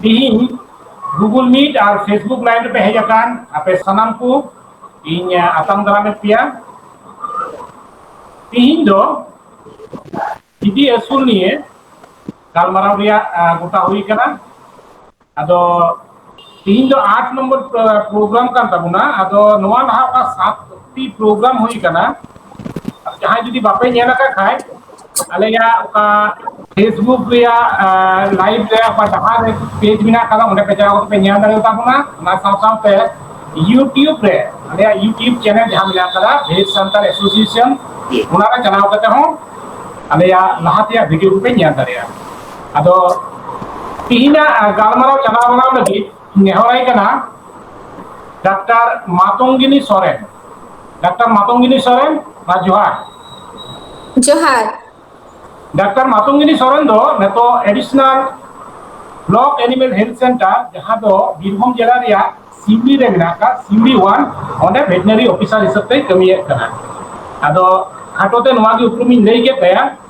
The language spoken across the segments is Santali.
ᱛᱤᱦᱤᱧ ᱜᱩᱜᱩᱞ ᱢᱤᱴ ᱟᱨ ᱯᱷᱮᱥᱵᱩᱠ ᱞᱟᱭᱤᱵᱷ ᱨᱮᱯᱮ ᱦᱮᱡ ᱟᱠᱟᱱ ᱟᱯᱮ ᱥᱟᱱᱟᱢ ᱠᱚ ᱤᱧ ᱟᱛᱟᱝ ᱫᱟᱨᱟᱢᱮᱫ ᱯᱮᱭᱟ ᱛᱤᱦᱤᱧ ᱫᱚ ᱡᱤᱵᱤ ᱟᱹᱥᱩᱞ ᱱᱤᱭᱮ ᱜᱟᱞᱢᱟᱨᱟᱣ ᱨᱮᱭᱟᱜ ᱜᱚᱴᱟ ᱦᱩᱭ ᱠᱟᱱᱟ ᱟᱫᱚ ᱛᱤᱦᱤᱧ ᱫᱚ ᱟᱴ ᱱᱚᱢᱵᱚᱨ ᱯᱨᱳᱜᱨᱟᱢ ᱠᱟᱱ ᱛᱟᱵᱚᱱᱟ ᱟᱫᱚ ᱱᱚᱣᱟ ᱞᱟᱦᱟ ᱚᱠᱟ ᱥᱟᱛ ᱴᱤ ᱯᱨᱳᱜᱨᱟᱢ ᱦᱩᱭ ᱠᱟᱱᱟ ᱡᱟᱦᱟᱸᱭ ᱡᱩᱫᱤ ᱵᱟᱯᱮ ᱧᱮᱞ ᱟᱠᱟᱫ ᱠᱷᱟᱡ ᱟᱞᱮᱭᱟᱜ ᱚᱠᱟ ᱯᱷᱮᱥᱵᱩᱠ ᱨᱮᱭᱟᱜ ᱞᱟᱭᱤᱵᱷ ᱨᱮ ᱚᱠᱟ ᱰᱟᱦᱟᱨ ᱨᱮ ᱯᱮᱡᱽ ᱢᱮᱱᱟᱜ ᱟᱠᱟᱫᱟ ᱚᱸᱰᱮ ᱯᱮ ᱪᱟᱞᱟᱣ ᱠᱟᱛᱮ ᱯᱮ ᱧᱮᱞ ᱫᱟᱲᱮ ᱛᱟᱵᱚᱱᱟ ᱚᱱᱟ ᱥᱟᱶ ᱥᱟᱶᱛᱮ ᱤᱭᱩᱴᱤᱭᱩᱵᱽ ᱨᱮ ᱟᱞᱮᱭᱟᱜ ᱤᱭᱩᱴᱤᱭᱩᱵᱽ ᱪᱮᱱᱮᱞ ᱡᱟᱦᱟᱸ ᱢᱮᱱᱟᱜ ᱟᱠᱟᱫᱟ ᱵᱷᱮᱡᱽ ᱥᱟᱱᱛᱟᱲ ᱮᱥᱳᱥᱤᱭᱮᱥᱚᱱ ᱚᱱᱟᱨᱮ ᱪᱟᱞᱟᱣ ᱠᱟᱛᱮ ᱦᱚᱸ ᱟᱞᱮᱭᱟᱜ ᱞᱟᱦᱟ ᱛᱮᱭᱟᱜ ᱵᱷᱤᱰᱤᱭᱳ ᱠᱚᱯᱮ ᱧᱮᱞ ᱫᱟᱲᱮᱭᱟᱜᱼᱟ ᱟᱫᱚ ᱛᱤᱦᱤᱧᱟᱜ ᱜᱟᱞᱢᱟᱨᱟᱣ ᱪᱟᱞᱟᱣ ᱢᱟᱲᱟᱝ ᱞᱟᱹᱜᱤᱫ ᱱᱮᱦᱚᱨᱟᱭ ᱠᱟᱱᱟ ᱰᱟᱠᱛᱟᱨ ᱢᱟᱛᱚᱝᱜᱤᱱᱤ ᱥᱚᱨᱮᱱ ᱰᱟᱠᱛᱟᱨ ᱢᱟᱛᱚᱝᱜᱤᱱᱤ ᱥᱚᱨᱮᱱ ᱢᱟ ᱡᱚᱦᱟᱨ ᱡᱚᱦᱟᱨ ᱰᱟᱠᱛᱟᱨ ᱢᱟᱛᱚᱝᱜᱤᱱᱤ ᱥᱚᱨᱮᱱ ᱫᱚ ᱱᱤᱛᱚᱜ additional block animal health centre ᱡᱟᱦᱟᱸ ᱫᱚ ᱵᱤᱨᱵᱷᱩᱢ ᱡᱮᱞᱟ ᱨᱮᱭᱟᱜ ᱥᱤᱣᱲᱤ ᱨᱮ ᱢᱮᱱᱟᱜ ᱟᱠᱟᱫ ᱥᱤᱣᱲᱤ ᱣᱟᱱ ᱚᱸᱰᱮ ᱵᱷᱮᱴᱱᱟᱨᱤ ᱚᱯᱷᱤᱥᱟᱨ ᱦᱤᱥᱟᱹᱵ ᱛᱮᱭ ᱠᱟᱹᱢᱤᱭᱮᱫ ᱠᱟᱱᱟ ᱟᱫᱚ ᱠᱷᱟᱴᱚ ᱛᱮ ᱱᱚᱣᱟ ᱜᱮ ᱩᱯᱨᱩᱢᱤᱧ ᱞᱟᱹᱭ ᱠᱮᱫ ᱛᱟᱭᱟ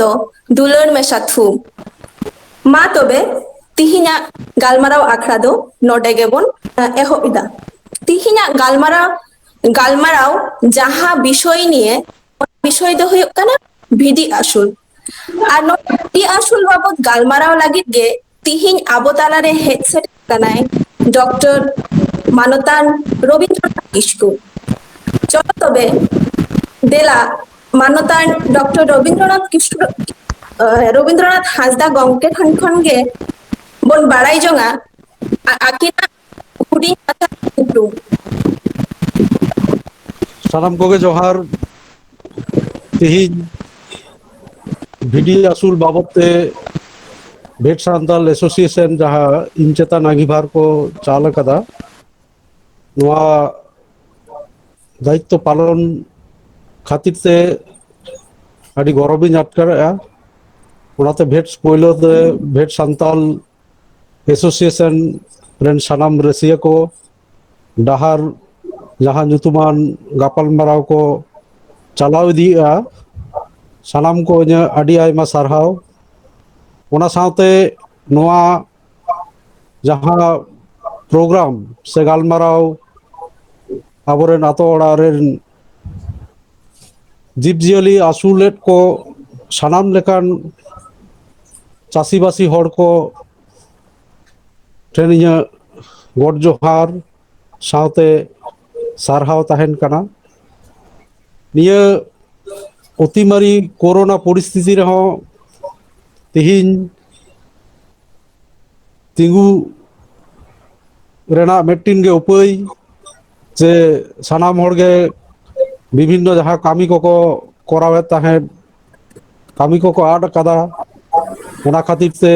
ᱫᱚ ᱫᱩᱞᱟᱹᱲ ᱢᱮᱥᱟ ᱛᱷᱩ᱾ ᱢᱟ ᱛᱚᱵᱮ ᱛᱤᱦᱤᱧᱟᱜ ᱜᱟᱞᱢᱟᱨᱟᱣ ᱟᱠᱷᱲᱟ ᱫᱚ ᱱᱚᱰᱮ ᱜᱮᱵᱚᱱ ᱮᱦᱚᱵ ᱮᱫᱟ᱾ ᱛᱤᱦᱤᱧᱟᱜ ᱜᱟᱞᱢᱟᱨᱟᱣ ᱜᱟᱞᱢᱟᱨᱟᱣ ᱡᱟᱦᱟᱸ ᱵᱤᱥᱚᱭ ᱱᱤᱭᱮ ᱚᱱᱟ ᱵᱤᱥᱚᱭ ᱫᱚ ᱦᱩᱭᱩᱜ ᱠᱟᱱᱟ ᱵᱷᱤᱰᱤ ᱟᱹᱥᱩᱞ᱾ ᱟᱨ ᱱᱚᱣᱟ ᱵᱷᱤᱰᱤ ᱟᱹᱥᱩᱞ ᱵᱟᱵᱚᱛ ᱜᱟᱞᱢᱟᱨᱟᱣ ᱞᱟᱹᱜᱤᱫ ᱜᱮ ᱛᱤᱦᱤᱧ ᱟᱵᱚ ᱛᱟᱞᱟᱨᱮ ᱦᱮᱡ ᱥᱮᱴᱮᱨ ᱠᱟᱱᱟᱭ ᱰᱚᱠᱴᱚᱨ ᱢᱟᱱᱚᱛᱟᱱ ᱨᱚᱵᱤᱱᱫᱨᱚᱱᱟᱛᱷ ᱠᱤᱥᱠᱩ ᱪᱚᱞᱚ ᱛᱚᱵᱮ ᱫᱮᱞᱟ ᱢᱟᱱᱚᱛᱟᱱ ᱰᱚᱠᱴᱚᱨ ᱨᱚᱵᱤᱱᱫᱨᱚᱱᱟᱛᱷ ᱠᱤᱥᱠᱩ ᱨᱚᱵᱤᱱᱫᱨᱚᱱᱟᱛᱷ ᱦᱟᱸᱥᱫᱟ ᱜᱚᱢᱠᱮ ᱴᱷᱮᱱ ᱠᱷᱚᱱ ᱜᱮ ᱵᱚᱱ ᱵᱟᱲᱟᱭ ᱡᱚᱝᱟ ᱟᱹᱠᱤᱱᱟᱜ ᱦᱩᱰᱤᱧ ᱢᱟᱪᱷᱟ ᱠᱩᱠᱢᱩ ᱥᱟᱱᱟᱢ ᱠᱚᱜᱮ ᱡᱚᱦᱟᱨ ᱛᱤᱦᱤᱧ ᱵᱷᱤᱰᱤ ᱟᱹᱥᱩᱞ ᱵᱟᱵᱚᱛ ᱛᱮ ᱵᱷᱮᱴ ᱥᱟᱱᱛᱟᱞ ᱮᱥᱳᱥᱤᱭᱮᱥᱚᱱ ᱡᱟᱦᱟᱸ ᱤᱧ ᱪᱮᱛᱟᱱ ᱟᱺᱜᱤᱵᱷᱟᱨ ᱠᱚ ᱪᱟᱞ ᱟᱠᱟᱫᱟ ᱱᱚᱣᱟ ᱫᱟᱭᱤᱛᱛᱚ ᱯᱟᱞᱚᱱ ᱠᱷᱟᱹᱛᱤᱨ ᱛᱮ ᱟᱹᱰᱤ ᱜᱚᱨᱚᱵᱤᱧ ᱟᱴᱠᱟᱨᱮᱜᱼᱟ ᱚᱱᱟᱛᱮ ᱵᱷᱮᱴᱥ ᱯᱳᱭᱞᱳ ᱛᱮ ᱵᱷᱮᱴ ᱥᱟᱱᱛᱟᱞ ᱮᱥᱳᱥᱤᱭᱮᱥᱚᱱ ᱨᱮᱱ ᱥᱟᱱᱟᱢ ᱨᱟᱹᱥᱤᱭᱟᱹ ᱠᱚ ᱰᱟᱦᱟᱨ ᱡᱟᱦᱟᱸ ᱧᱩᱛᱩᱢᱟᱱ ᱜᱟᱯᱟᱞ ᱢᱟᱨᱟᱣ ᱠᱚ ᱪᱟᱞᱟᱣ ᱤᱫᱤᱭᱮᱫᱼᱟ ᱥᱟᱱᱟᱢ ᱠᱚ ᱤᱧᱟᱹᱜ ᱟᱹᱰᱤ ᱟᱭᱢᱟ ᱥᱟᱨᱦᱟᱣ ᱚᱱᱟ ᱥᱟᱶᱛᱮ ᱱᱚᱣᱟ ᱡᱟᱦᱟᱸ ᱯᱨᱳᱜᱨᱟᱢ ᱥᱮ ᱜᱟᱞᱢᱟᱨᱟᱣ ᱟᱵᱚᱨᱮᱱ ᱟᱛᱳ ᱚᱲᱟᱜ ᱨᱮᱱ ᱡᱤᱵᱽ ᱡᱤᱭᱟᱹᱞᱤ ᱟᱹᱥᱩᱞᱮᱫ ᱠᱚ ᱥᱟᱱᱟᱢ ᱞᱮᱠᱟᱱ ᱪᱟᱹᱥᱤᱵᱟᱹᱥᱤ ᱦᱚᱲ ᱠᱚ ᱴᱷᱮᱱ ᱤᱧᱟᱹᱜ ᱜᱚᱰ ᱡᱚᱦᱟᱨ ᱥᱟᱶᱛᱮ ᱥᱟᱨᱦᱟᱣ ᱛᱟᱦᱮᱱ ᱠᱟᱱᱟ ᱱᱤᱭᱟᱹ ᱚᱛᱤ ᱢᱟᱨᱟᱹᱨᱤ ᱠᱳᱨᱳᱱᱟ ᱯᱚᱨᱤᱥᱛᱷᱤᱛᱤ ᱨᱮᱦᱚᱸ ᱛᱮᱦᱤᱧ ᱛᱤᱸᱜᱩ ᱨᱮᱱᱟᱜ ᱢᱤᱫᱴᱤᱱ ᱜᱮ ᱩᱯᱟᱹᱭ ᱡᱮ ᱥᱟᱱᱟᱢ ᱦᱚᱲ ᱜᱮ ᱵᱤᱵᱷᱤᱱᱱᱚ ᱡᱟᱦᱟᱸ ᱠᱟᱹᱢᱤ ᱠᱚᱠᱚ ᱠᱚᱨᱟᱣᱮᱫ ᱛᱟᱦᱮᱸᱫ ᱠᱟᱹᱢᱤ ᱠᱚᱠᱚ ᱟᱫ ᱠᱟᱫᱟ ᱚᱱᱟ ᱠᱷᱟᱹᱛᱤᱨ ᱛᱮ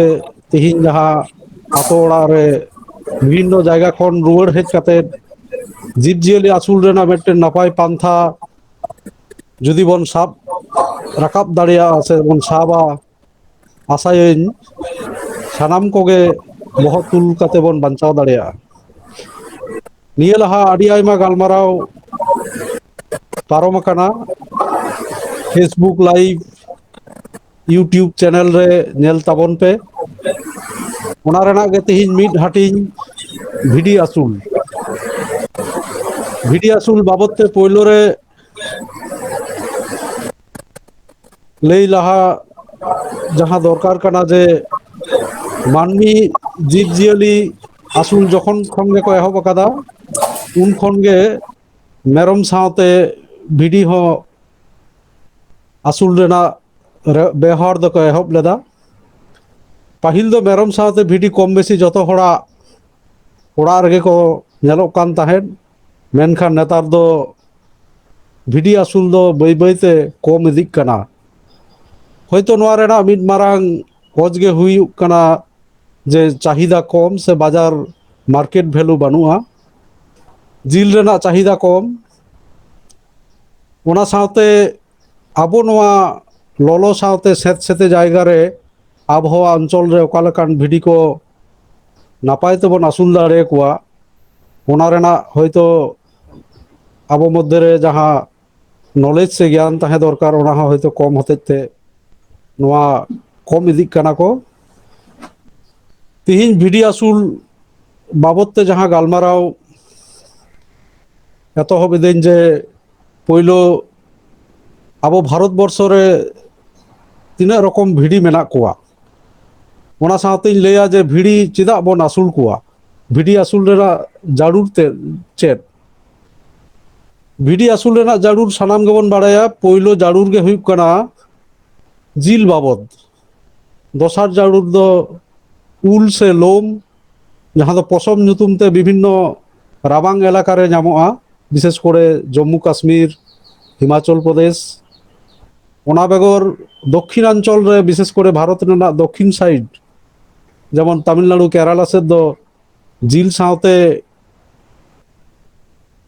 ᱛᱮᱦᱤᱧ ᱡᱟᱦᱟᱸ ᱟᱛᱳ ᱚᱲᱟᱜ ᱨᱮ ᱵᱤᱵᱷᱤᱱᱱᱚ ᱡᱟᱭᱜᱟ ᱠᱷᱚᱱ ᱨᱩᱣᱟᱹᱲ ᱦᱮᱡ ᱠᱟᱛᱮᱫ ᱡᱤᱵᱽ ᱡᱤᱭᱟᱹᱞᱤ ᱟᱹᱥᱩᱞ ᱨᱮᱱᱟᱜ ᱢᱤᱫᱴᱮᱱ ᱱᱟᱯᱟᱭ ᱯᱟᱱᱛᱷᱟ ᱡᱩᱫᱤ ᱵᱚᱱ ᱥᱟᱵ ᱨᱟᱠᱟᱵ ᱫᱟᱲᱮᱭᱟᱜᱼᱟ ᱥᱮᱵᱚᱱ ᱥᱟᱵᱟ ᱟᱥᱟᱭᱟᱹᱧ ᱥᱟᱱᱟᱢ ᱠᱚᱜᱮ ᱵᱚᱦᱚᱜ ᱛᱩᱞ ᱠᱟᱛᱮ ᱵᱚᱱ ᱵᱟᱧᱪᱟᱣ ᱫᱟᱲᱮᱭᱟᱜᱼᱟ ᱱᱤᱭᱟᱹ ᱞᱟᱦᱟ ᱟᱹᱰᱤ ᱟᱭᱢᱟ ᱜᱟᱞᱢᱟᱨᱟᱣ ᱯᱟᱨᱚᱢ ᱟᱠᱟᱱᱟ ᱯᱷᱮᱥᱵᱩᱠ ᱞᱟᱭᱤᱵᱷ ᱤᱭᱩᱴᱩᱵᱽ ᱪᱮᱱᱮᱞ ᱨᱮ ᱧᱮᱞ ᱛᱟᱵᱚᱱ ᱯᱮ ᱚᱱᱟ ᱨᱮᱱᱟᱜ ᱜᱮ ᱛᱮᱦᱤᱧ ᱢᱤᱫ ᱦᱟᱹᱴᱤᱧ ᱵᱷᱤᱰᱤ ᱟᱹᱥᱩᱞ ᱵᱷᱤᱰᱤ ᱟᱹᱥᱩᱞ ᱵᱟᱵᱚᱛ ᱛᱮ ᱯᱳᱭᱞᱳ ᱨᱮ ᱞᱟᱹᱭ ᱞᱟᱦᱟ ᱡᱟᱦᱟᱸ ᱫᱚᱨᱠᱟᱨ ᱠᱟᱱᱟ ᱡᱮ ᱢᱟᱹᱱᱢᱤ ᱡᱤᱵᱽ ᱡᱤᱭᱟᱹᱞᱤ ᱟᱹᱥᱩᱞ ᱡᱚᱠᱷᱚᱱ ᱠᱷᱚᱱ ᱜᱮᱠᱚ ᱮᱦᱚᱵ ᱟᱠᱟᱫᱟ ᱩᱱ ᱠᱷᱚᱱ ᱜᱮ ᱢᱮᱨᱚᱢ ᱥᱟᱶᱛᱮ ᱵᱷᱤᱰᱤ ᱦᱚᱸ ᱟᱹᱥᱩᱞ ᱨᱮᱱᱟᱜ ᱨᱮ ᱵᱮᱣᱦᱟᱨ ᱫᱚᱠᱚ ᱮᱦᱚᱵ ᱞᱮᱫᱟ ᱯᱟᱹᱦᱤᱞ ᱫᱚ ᱢᱮᱨᱚᱢ ᱥᱟᱶᱛᱮ ᱵᱷᱤᱰᱤ ᱠᱚᱢ ᱵᱮᱥᱤ ᱡᱚᱛᱚ ᱦᱚᱲᱟᱜ ᱚᱲᱟᱜ ᱨᱮᱜᱮ ᱠᱚ ᱧᱮᱞᱚᱜ ᱠᱟᱱ ᱛᱟᱦᱮᱸᱫ ᱢᱮᱱᱠᱷᱟᱱ ᱱᱮᱛᱟᱨ ᱫᱚ ᱵᱷᱤᱰᱤ ᱟᱹᱥᱩᱞ ᱫᱚ ᱵᱟᱹᱭ ᱵᱟᱹᱭᱛᱮ ᱠᱚᱢ ᱤᱫᱤᱜ ᱠᱟᱱᱟ ᱦᱳᱭᱛᱳ ᱱᱚᱣᱟ ᱨᱮᱱᱟᱜ ᱢᱤᱫ ᱢᱟᱨᱟᱝ ᱚᱡᱽ ᱜᱮ ᱦᱩᱭᱩᱜ ᱠᱟᱱᱟ ᱡᱮ ᱪᱟᱦᱤᱫᱟ ᱠᱚᱢ ᱥᱮ ᱵᱟᱡᱟᱨ ᱢᱟᱨᱠᱮᱴ ᱵᱷᱮᱞᱩ ᱵᱟᱹᱱᱩᱜᱼᱟ ᱡᱤᱞ ᱨᱮᱱᱟᱜ ᱪᱟᱦᱤᱫᱟ ᱠᱚᱢ ᱚᱱᱟ ᱥᱟᱶᱛᱮ ᱟᱵᱚ ᱱᱚᱣᱟ ᱞᱚᱞᱚ ᱥᱟᱶᱛᱮ ᱥᱮᱸᱛ ᱥᱮᱸᱛᱮ ᱡᱟᱭᱜᱟ ᱨᱮ ᱟᱵᱚᱦᱟᱣᱟ ᱚᱧᱪᱚᱞ ᱨᱮ ᱚᱠᱟ ᱞᱮᱠᱟᱱ ᱵᱷᱤᱰᱤ ᱠᱚ ᱱᱟᱯᱟᱭ ᱛᱮᱵᱚᱱ ᱟᱹᱥᱩᱞ ᱫᱟᱲᱮ ᱟᱠᱚᱣᱟ ᱚᱱᱟ ᱨᱮᱱᱟᱜ ᱦᱚᱭᱛᱳ ᱟᱵᱚ ᱢᱚᱫᱽᱫᱷᱮ ᱨᱮ ᱡᱟᱦᱟᱸ ᱱᱚᱞᱮᱡᱽ ᱥᱮ ᱜᱮᱭᱟᱱ ᱛᱟᱦᱮᱸ ᱫᱚᱨᱠᱟᱨ ᱚᱱᱟ ᱦᱚᱸ ᱦᱚᱭᱛᱳ ᱠᱚᱢ ᱦᱚᱛᱮᱡ ᱛᱮ ᱱᱚᱣᱟ ᱠᱚᱢ ᱤᱫᱤᱜ ᱠᱟᱱᱟ ᱠᱚ ᱛᱤᱦᱤᱧ ᱵᱷᱤᱰᱤ ᱟᱹᱥᱩᱞ ᱵᱟᱵᱚᱛ ᱛᱮ ᱡᱟᱦᱟᱸ ᱜᱟᱞᱢᱟᱨᱟᱣ ᱮᱛᱚᱦᱚᱵ ᱤᱫᱟᱹᱧ ᱡᱮ ᱯᱳᱭᱞᱳ ᱟᱵᱚ ᱵᱷᱟᱨᱚᱛ ᱵᱚᱨᱥᱚ ᱨᱮ ᱛᱤᱱᱟᱹᱜ ᱨᱚᱠᱚᱢ ᱵᱷᱤᱰᱤ ᱢᱮᱱᱟᱜ ᱠᱚᱣᱟ ᱚᱱᱟ ᱥᱟᱶᱛᱮᱧ ᱞᱟᱹᱭᱟ ᱡᱮ ᱵᱷᱤᱲᱤ ᱪᱮᱫᱟᱜ ᱵᱚᱱ ᱟᱹᱥᱩᱞ ᱠᱚᱣᱟ ᱵᱷᱤᱰᱤ ᱟᱹᱥᱩᱞ ᱨᱮᱱᱟᱜ ᱡᱟᱹᱨᱩᱲ ᱛᱮ ᱪᱮᱫ ᱵᱷᱤᱰᱤ ᱟᱹᱥᱩᱞ ᱨᱮᱱᱟᱜ ᱡᱟᱹᱨᱩᱲ ᱥᱟᱱᱟᱢ ᱜᱮᱵᱚᱱ ᱵᱟᱲᱟᱭᱟ ᱯᱳᱭᱞᱳ ᱡᱟᱹᱨᱩᱲ ᱜᱮ ᱦᱩᱭᱩᱜ ᱠᱟᱱᱟ ᱡᱤᱞ ᱵᱟᱵᱚᱫ ᱫᱚᱥᱟᱨ ᱡᱟᱹᱨᱩᱲ ᱫᱚ ᱩᱞ ᱥᱮ ᱞᱳᱢ ᱡᱟᱦᱟᱸ ᱫᱚ ᱯᱚᱥᱚᱢ ᱧᱩᱛᱩᱢ ᱛᱮ ᱵᱤᱵᱷᱤᱱᱱᱚ ᱨᱟᱵᱟᱝ ᱮᱞᱟᱠᱟ ᱨᱮ ᱧᱟᱢᱚᱜᱼᱟ ᱵᱤᱥᱮᱥ ᱠᱚᱨᱮ ᱡᱚᱢᱢᱩ ᱠᱟᱥᱢᱤᱨ ᱦᱤᱢᱟᱪᱚᱞ ᱯᱨᱚᱫᱮᱥ ᱚᱱᱟ ᱵᱮᱜᱚᱨ ᱫᱚᱠᱠᱷᱤᱱᱟᱧᱪᱚᱞ ᱨᱮ ᱵᱤᱥᱮᱥ ᱠᱚᱨᱮ ᱵᱷᱟᱨᱚᱛ ᱨᱮᱱᱟᱜ ᱫᱚᱠᱠᱷᱤᱱ ᱥᱟᱭᱤᱰ ᱡᱮᱢᱚᱱ ᱛᱟᱢᱤᱞᱱᱟᱲᱩ ᱠᱮᱨᱟᱞᱟ ᱥᱮᱫ ᱫᱚ ᱡᱤᱞ ᱥᱟᱶᱛᱮ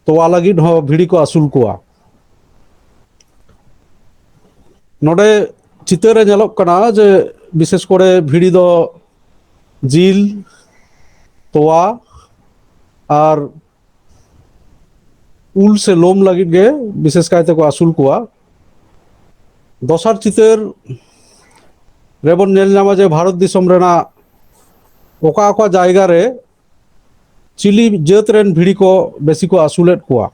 ᱛᱚᱣᱟ ᱞᱟᱹᱜᱤᱫ ᱦᱚᱸ ᱵᱷᱤᱲᱤ ᱠᱚ ᱟᱹᱥᱩᱞ ᱠᱚᱣᱟ ᱱᱚᱰᱮ ᱪᱤᱛᱟᱹᱨ ᱨᱮ ᱧᱮᱞᱚᱜ ᱠᱟᱱᱟ ᱡᱮ ᱵᱤᱥᱮᱥ ᱠᱚᱨᱮ ᱵᱷᱤᱲᱤ ᱫᱚ ᱡᱤᱞ ᱛᱚᱣᱟ ᱟᱨ ᱩᱞ ᱥᱮ ᱞᱳᱢ ᱞᱟᱹᱜᱤᱫ ᱜᱮ ᱵᱤᱥᱮᱥ ᱠᱟᱭ ᱛᱮᱠᱚ ᱟᱹᱥᱩᱞ ᱠᱚᱣᱟ ᱫᱚᱥᱟᱨ ᱪᱤᱛᱟᱹᱨ ᱨᱮᱵᱚᱱ ᱧᱮᱞ ᱧᱟᱢᱟ ᱡᱮ ᱵᱷᱟᱨᱚᱛ ᱫᱤᱥᱚᱢ ᱨᱮᱱᱟᱜ ᱚᱠᱟ ᱚᱠᱟ ᱡᱟᱭᱜᱟ ᱨᱮ ᱪᱤᱞᱤ ᱡᱟᱹᱛ ᱨᱮᱱ ᱵᱷᱤᱲᱤ ᱠᱚ ᱵᱮᱥᱤ ᱠᱚ ᱟᱹᱥᱩᱞᱮᱫ ᱠᱚᱣᱟ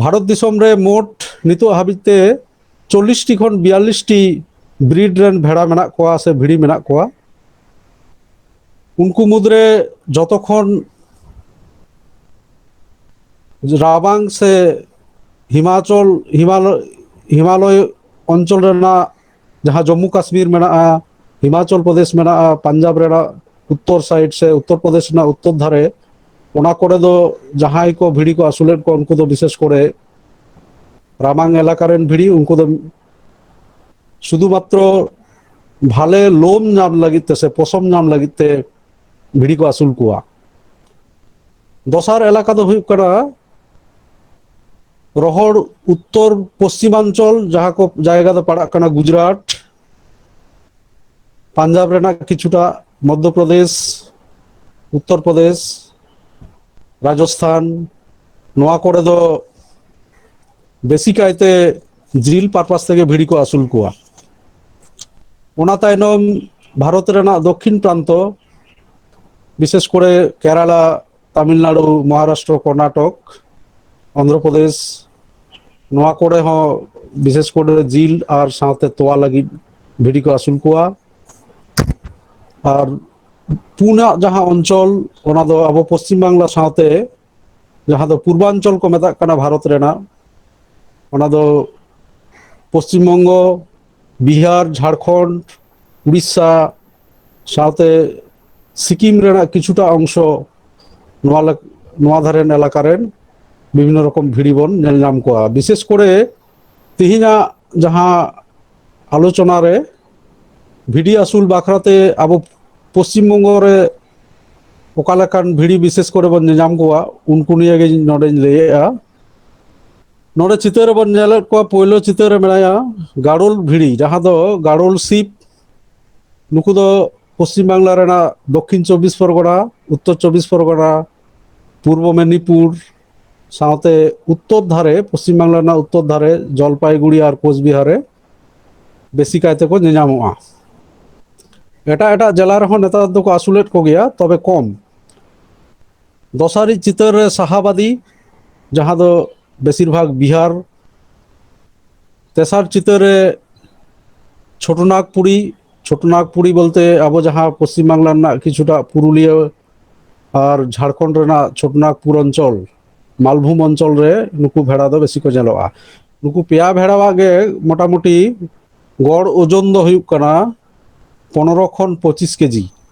ᱵᱷᱟᱨᱚᱛ ᱫᱤᱥᱚᱢ ᱨᱮ ᱢᱳᱴ ᱱᱤᱛᱚᱜ ᱦᱟᱹᱵᱤᱡ ᱛᱮ ᱪᱚᱞᱞᱤᱥᱴᱤ ᱠᱷᱚᱱ ᱵᱤᱭᱟᱞᱞᱤᱥᱴᱤ ᱵᱨᱤᱰ ᱨᱮᱱ ᱵᱷᱮᱲᱟ ᱢᱮᱱᱟᱜ ᱠᱚᱣᱟ ᱥᱮ ᱵᱷᱤᱲᱤ ᱢᱮᱱᱟᱜ ᱠᱚᱣᱟ ᱩᱱᱠᱩ ᱢᱩᱫᱽᱨᱮ ᱡᱚᱛᱚ ᱠᱷᱚᱱ ᱨᱟᱵᱟᱝ ᱥᱮ ᱦᱤᱢᱟᱪᱚᱞ ᱦᱤᱢᱟᱞᱚᱭ ᱦᱤᱢᱟᱞᱚᱭ ᱚᱧᱪᱚᱞ ᱨᱮᱱᱟᱜ ᱡᱟᱦᱟᱸ ᱡᱚᱢᱢᱩ ᱠᱟᱥᱢᱤᱨ ᱢᱮᱱᱟᱜᱼᱟ ᱦᱤᱢᱟᱪᱚᱞ ᱯᱨᱚᱫᱮᱥ ᱢᱮᱱᱟᱜᱼᱟ ᱯᱟᱧᱡᱟᱵᱽ ᱨᱮᱱᱟᱜ ᱩᱛᱛᱚᱨ ᱥᱟᱭᱤᱰ ᱥᱮ ᱩᱛᱛᱚᱨ ᱯᱨᱚᱫᱮᱥ ᱨᱮᱱᱟᱜ ᱩᱛᱛᱚᱨ ᱫᱷᱟᱨᱮ ᱚᱱᱟ ᱠᱚᱨᱮ ᱫᱚ ᱡᱟᱦᱟᱸᱭ ᱠᱚ ᱵᱷᱤᱲᱤ ᱠᱚ ᱟᱹᱥᱩᱞᱮᱫ ᱠᱚᱣᱟ ᱩᱱᱠᱩ ᱫᱚ ᱵᱤᱥᱮᱥ ᱠᱚᱨᱮ ᱨᱟᱢᱟᱝ ᱮᱞᱟᱠᱟ ᱨᱮᱱ ᱵᱷᱤᱲᱤ ᱩᱱᱠᱩ ᱫᱚ ᱥᱩᱫᱷᱩ ᱢᱟᱛᱨᱚ ᱵᱷᱟᱞᱮ ᱞᱳᱢ ᱧᱟᱢ ᱞᱟᱹᱜᱤᱫ ᱛᱮ ᱥᱮ ᱯᱚᱥᱚᱢ ᱧᱟᱢ ᱞᱟᱹᱜᱤᱫ ᱛᱮ ᱵᱷᱤᱲᱤ ᱠᱚ ᱟᱹᱥᱩᱞ ᱠᱚᱣᱟ ᱫᱚᱥᱟᱨ ᱮᱞᱟᱠᱟ ᱫᱚ ᱦᱩᱭᱩᱜ ᱠᱟᱱᱟ ᱨᱚᱦᱚᱲ ᱩᱛᱛᱚᱨ ᱯᱚᱥᱪᱤᱢᱟᱧᱪᱚᱞ ᱡᱟᱦᱟᱸ ᱠᱚ ᱡᱟᱭᱜᱟ ᱫᱚ ᱯᱟᱲᱟᱜ ᱠᱟᱱᱟ ᱜᱩᱡᱽᱨᱟᱴ ᱯᱟᱧᱡᱟᱵᱽ ᱨᱮᱱᱟᱜ ᱠᱤᱪᱷᱩᱴᱟ ᱢᱚᱫᱽᱫᱷᱚ ᱯᱨᱚᱫᱮᱥ ᱩᱛᱛᱚᱨ ᱯᱨᱚᱫᱮᱥ ᱨᱟᱡᱚᱥᱛᱷᱟᱱ ᱱᱚᱣᱟ ᱠᱚᱨᱮ ᱫᱚ ᱵᱮᱥᱤ ᱠᱟᱭᱛᱮ ᱡᱤᱞ ᱯᱟᱨᱯᱟᱥ ᱛᱮᱜᱮ ᱵᱷᱤᱲᱤ ᱠᱚ ᱟᱹᱥᱩᱞ ᱠᱚᱣᱟ ᱚᱱᱟ ᱛᱟᱭᱱᱚᱢ ᱵᱷᱟᱨᱚᱛ ᱨᱮᱱᱟᱜ ᱫᱚᱠᱠᱷᱤᱱ ᱯᱨᱟᱱᱛᱚ ᱵᱤᱥᱮᱥ ᱠᱚᱨᱮ ᱠᱮᱨᱟᱞᱟ ᱛᱟᱢᱤᱞᱱᱟᱲᱩ ᱢᱚᱦᱟᱨᱟᱥᱴᱨᱚ ᱠᱚᱨᱱᱟᱴᱚᱠ ᱚᱱᱫᱷᱨᱚ ᱯᱨᱚᱫᱮᱥ ᱱᱚᱣᱟ ᱠᱚᱨᱮ ᱦᱚᱸ ᱵᱤᱥᱮᱥ ᱠᱚᱨᱮ ᱡᱤᱞ ᱟᱨ ᱥᱟᱶᱛᱮ ᱛᱚᱣᱟ ᱞᱟᱹᱜᱤᱫ ᱵᱷᱤᱰᱤ ᱠᱚ ᱟᱹᱥᱩᱞ ᱠᱚᱣᱟ ᱟᱨ ᱯᱩᱱᱟᱜ ᱡᱟᱦᱟᱸ ᱚᱧᱪᱚᱞ ᱚᱱᱟ ᱫᱚ ᱟᱵᱚ ᱯᱚᱥᱪᱤᱢ ᱵᱟᱝᱞᱟ ᱥᱟᱶᱛᱮ ᱡᱟᱦᱟᱸ ᱫᱚ ᱯᱩᱨᱵᱟᱧᱪᱚᱞ ᱠᱚ ᱢᱮᱛᱟᱜ ᱠᱟᱱᱟ ᱵᱷᱟᱨᱚᱛ ᱨᱮᱱᱟᱜ ᱚᱱᱟ ᱫᱚ ᱯᱚᱥᱪᱤᱢ ᱵᱚᱝᱜᱚ ᱵᱤᱦᱟᱨ ᱡᱷᱟᱲᱠᱷᱚᱸᱰ ᱩᱲᱤᱥᱥᱟ ᱥᱟᱶᱛᱮ ᱥᱤᱠᱤᱢ ᱨᱮᱱᱟᱜ ᱠᱤᱪᱷᱩᱴᱟ ᱚᱝᱥᱚ ᱱᱚᱣᱟ ᱱᱚᱣᱟ ᱫᱷᱟᱨᱮᱱ ᱮᱞᱟᱠᱟ ᱨᱮᱱ ᱵᱤᱵᱷᱤᱱᱱᱚ ᱨᱚᱠᱚᱢ ᱵᱷᱤᱲᱤ ᱵᱚᱱ ᱧᱮᱞ ᱧᱟᱢ ᱠᱚᱣᱟ ᱵᱤᱥᱮᱥ ᱠᱚᱨᱮ ᱛᱮᱦᱮᱧᱟᱜ ᱡᱟᱦᱟᱸ ᱟᱞᱳᱪᱚᱱᱟ ᱨᱮ ᱵᱷᱤᱰᱤ ᱟᱹᱥᱩᱞ ᱵᱟᱠᱷᱨᱟᱛᱮ ᱟᱵᱚ ᱯᱚᱥᱪᱤᱢ ᱵᱚᱝᱜᱚ ᱨᱮ ᱚᱠᱟ ᱞᱮᱠᱟᱱ ᱵᱷᱤᱲᱤ ᱵᱤᱥᱮᱥ ᱠᱚᱨᱮ ᱵᱚᱱ ᱧᱮᱧᱟᱢ ᱠᱚᱣᱟ ᱩᱱᱠᱩ ᱱᱤᱭᱮ ᱜᱮ ᱱᱚᱰᱮᱧ ᱞᱟᱹᱭᱮᱜᱼᱟ ᱱᱚᱰᱮ ᱪᱤᱛᱟᱹᱨ ᱨᱮᱵᱚᱱ ᱧᱮᱞᱮᱫ ᱠᱚᱣᱟ ᱯᱳᱭᱞᱳ ᱪᱤᱛᱟᱹᱨ ᱨᱮ ᱢᱮᱱᱟᱭᱟ ᱜᱟᱲᱩᱞ ᱵᱷᱤᱲᱤ ᱡᱟᱦᱟᱸ ᱫᱚ ᱜᱟᱲᱩᱞ ᱥᱤᱯ ᱱᱩᱠᱩ ᱫᱚ ᱯᱚᱥᱪᱤᱢ ᱵᱟᱝᱞᱟ ᱨᱮᱱᱟᱜ ᱫᱚᱠᱠᱷᱤᱱ ᱪᱚᱵᱽᱵᱤᱥ ᱯᱚᱨᱜᱚᱱᱟ ᱩᱛᱛᱚᱨ ᱪᱚᱵᱽᱵᱤᱥ ᱯᱚᱨᱜᱚᱱᱟ ᱯᱩᱨᱵᱚ ᱢᱮᱫᱽᱱᱤᱯᱩᱨ ᱥᱟᱶᱛᱮ ᱩᱛᱛᱚᱨ ᱫᱷᱟᱨᱮ ᱯᱚᱥᱪᱤᱢ ᱵᱟᱝᱞᱟ ᱨᱮᱱᱟᱜ ᱩᱛᱛᱚᱨ ᱫᱷᱟᱨᱮ ᱡᱚᱞᱯᱟᱭᱜᱩᱲᱤ ᱟᱨ ᱠᱳᱪᱵᱤᱦᱟᱨ ᱨᱮ ᱵᱮᱥᱤ ᱠᱟᱭ ᱛᱮᱠᱚ ᱧᱮᱧᱟᱢᱚᱜᱼᱟ ᱮᱴᱟᱜ ᱮᱴᱟᱜ ᱡᱮᱞᱟ ᱨᱮᱦᱚᱸ ᱱᱮᱛᱟᱨ ᱫᱚᱠᱚ ᱟᱹᱥᱩᱞᱮᱫ ᱠᱚᱜᱮᱭᱟ ᱛᱚᱵᱮ ᱠᱚᱢ ᱫᱚᱥᱟᱨᱤᱡ ᱪᱤᱛᱟᱹᱨ ᱨᱮ ᱥᱟᱦᱟᱵᱟᱫᱤ ᱡᱟᱦᱟᱸ ᱫᱚ ᱵᱮᱥᱤᱨ ᱵᱷᱟᱜᱽ ᱵᱤᱦᱟᱨ ᱛᱮᱥᱟᱨ ᱪᱤᱛᱟᱹᱨ ᱨᱮ ᱪᱷᱳᱴᱳᱱᱟᱜᱽᱯᱩᱨᱤ ᱪᱷᱳᱴᱳᱱᱟᱜᱽᱯᱩᱨᱤ ᱵᱚᱞᱛᱮ ᱟᱵᱚ ᱡᱟᱦᱟᱸ ᱯᱚᱥᱪᱤᱢ ᱵᱟᱝᱞᱟ ᱨᱮᱱᱟᱜ ᱠᱤᱪᱷᱩᱴᱟ ᱯᱩᱨᱩᱞᱤᱭᱟᱹ ᱟᱨ ᱡᱷᱟᱲᱠᱷᱚᱸᱰ ᱨᱮᱱᱟᱜ ᱪᱷᱳᱴᱳᱱᱟᱜᱽᱯᱩᱨ ᱚᱧᱪᱚᱞ ᱢᱟᱞᱵᱷᱩᱢ ᱚᱧᱪᱚᱞ ᱨᱮ ᱱᱩᱠᱩ ᱵᱷᱮᱲᱟ ᱫᱚ ᱵᱮᱥᱤ ᱠᱚ ᱧᱮᱞᱚᱜᱼᱟ ᱱᱩᱠᱩ ᱯᱮᱭᱟ ᱵᱷᱮᱲᱟᱣᱟᱜ ᱜᱮ ᱢᱚᱴᱟᱢᱩᱴᱤ ᱜᱚᱲ ᱳᱡᱚᱱ ᱫᱚ ᱦᱩᱭᱩᱜ ᱠᱟᱱᱟ ᱯᱚᱱᱨᱚ ᱠᱷᱚᱱ ᱯᱚᱸᱪᱤᱥ ᱠᱮᱡᱤ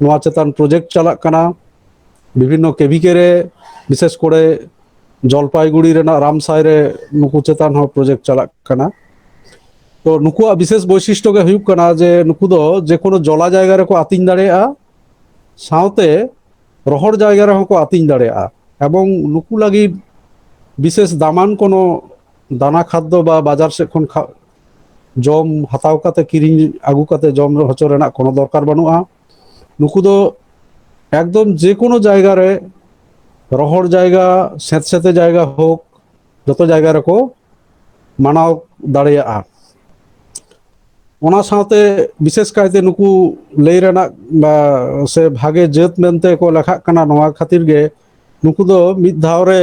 ᱱᱚᱣᱟ ᱪᱮᱛᱟᱱ ᱯᱨᱚᱡᱮᱠᱴ ᱪᱟᱞᱟᱜ ᱠᱟᱱᱟ ᱵᱤᱵᱷᱤᱱᱱᱚ ᱠᱮᱵᱷᱤᱠᱮ ᱨᱮ ᱵᱤᱥᱮᱥ ᱠᱚᱨᱮ ᱡᱚᱞᱯᱟᱭᱜᱩᱲᱤ ᱨᱮᱱᱟᱜ ᱨᱟᱢᱥᱟᱭ ᱨᱮ ᱱᱩᱠᱩ ᱪᱮᱛᱟᱱ ᱦᱚᱸ ᱯᱨᱚᱡᱮᱠᱴ ᱪᱟᱞᱟᱜ ᱠᱟᱱᱟ ᱛᱚ ᱱᱩᱠᱩᱣᱟᱜ ᱵᱤᱥᱮᱥ ᱵᱳᱭᱥᱤᱥᱴᱚ ᱜᱮ ᱦᱩᱭᱩᱜ ᱠᱟᱱᱟ ᱡᱮ ᱱᱩᱠᱩ ᱫᱚ ᱡᱮ ᱠᱳᱱᱳ ᱡᱚᱞᱟ ᱡᱟᱭᱜᱟ ᱨᱮᱠᱚ ᱟᱹᱛᱤᱧ ᱫᱟᱲᱮᱭᱟᱜᱼᱟ ᱥᱟᱶᱛᱮ ᱨᱚᱦᱚᱲ ᱡᱟᱭᱜᱟ ᱨᱮᱦᱚᱸ ᱠᱚ ᱟᱹᱛᱤᱧ ᱫᱟᱲᱮᱭᱟᱜᱼᱟ ᱮᱵᱚᱝ ᱱᱩᱠᱩ ᱞᱟᱹᱜᱤᱫ ᱵᱤᱥᱮᱥ ᱫᱟᱢᱟᱱ ᱠᱳᱱᱳ ᱫᱟᱱᱟ ᱠᱷᱟᱫᱽᱫᱚ ᱵᱟ ᱵᱟᱡᱟᱨ ᱥᱮᱫ ᱠᱷᱚᱱ ᱡᱚᱢ ᱦᱟᱛᱟᱣ ᱠᱟᱛᱮ ᱠᱤᱨᱤᱧ ᱟᱹᱜᱩ ᱠᱟᱛᱮ ᱡᱚᱢ ᱦᱚᱪᱚ ᱨᱮᱱᱟᱜ ᱠᱳᱱᱳ ᱫᱚᱨᱠᱟᱨ ᱵᱟᱹᱱᱩᱜᱼᱟ ᱱᱩᱠᱩ ᱫᱚ ᱮᱠᱫᱚᱢ ᱡᱮ ᱠᱳᱱᱳ ᱡᱟᱭᱜᱟ ᱨᱮ ᱨᱚᱦᱚᱲ ᱡᱟᱭᱜᱟ ᱥᱮᱸᱛ ᱥᱮᱸᱛᱮ ᱡᱟᱭᱜᱟ ᱦᱳᱠ ᱡᱚᱛᱚ ᱡᱟᱭᱜᱟ ᱨᱮᱠᱚ ᱢᱟᱱᱟᱣ ᱫᱟᱲᱮᱭᱟᱜᱼᱟ ᱚᱱᱟ ᱥᱟᱶᱛᱮ ᱵᱤᱥᱮᱥ ᱠᱟᱭᱛᱮ ᱱᱩᱠᱩ ᱞᱟᱹᱭ ᱨᱮᱱᱟᱜ ᱥᱮ ᱵᱷᱟᱜᱮ ᱡᱟᱹᱛ ᱢᱮᱱᱛᱮ ᱠᱚ ᱞᱮᱠᱷᱟᱜ ᱠᱟᱱᱟ ᱱᱚᱣᱟ ᱠᱷᱟᱹᱛᱤᱨ ᱜᱮ ᱱᱩᱠᱩ ᱫᱚ ᱢᱤᱫ ᱫᱷᱟᱣ ᱨᱮ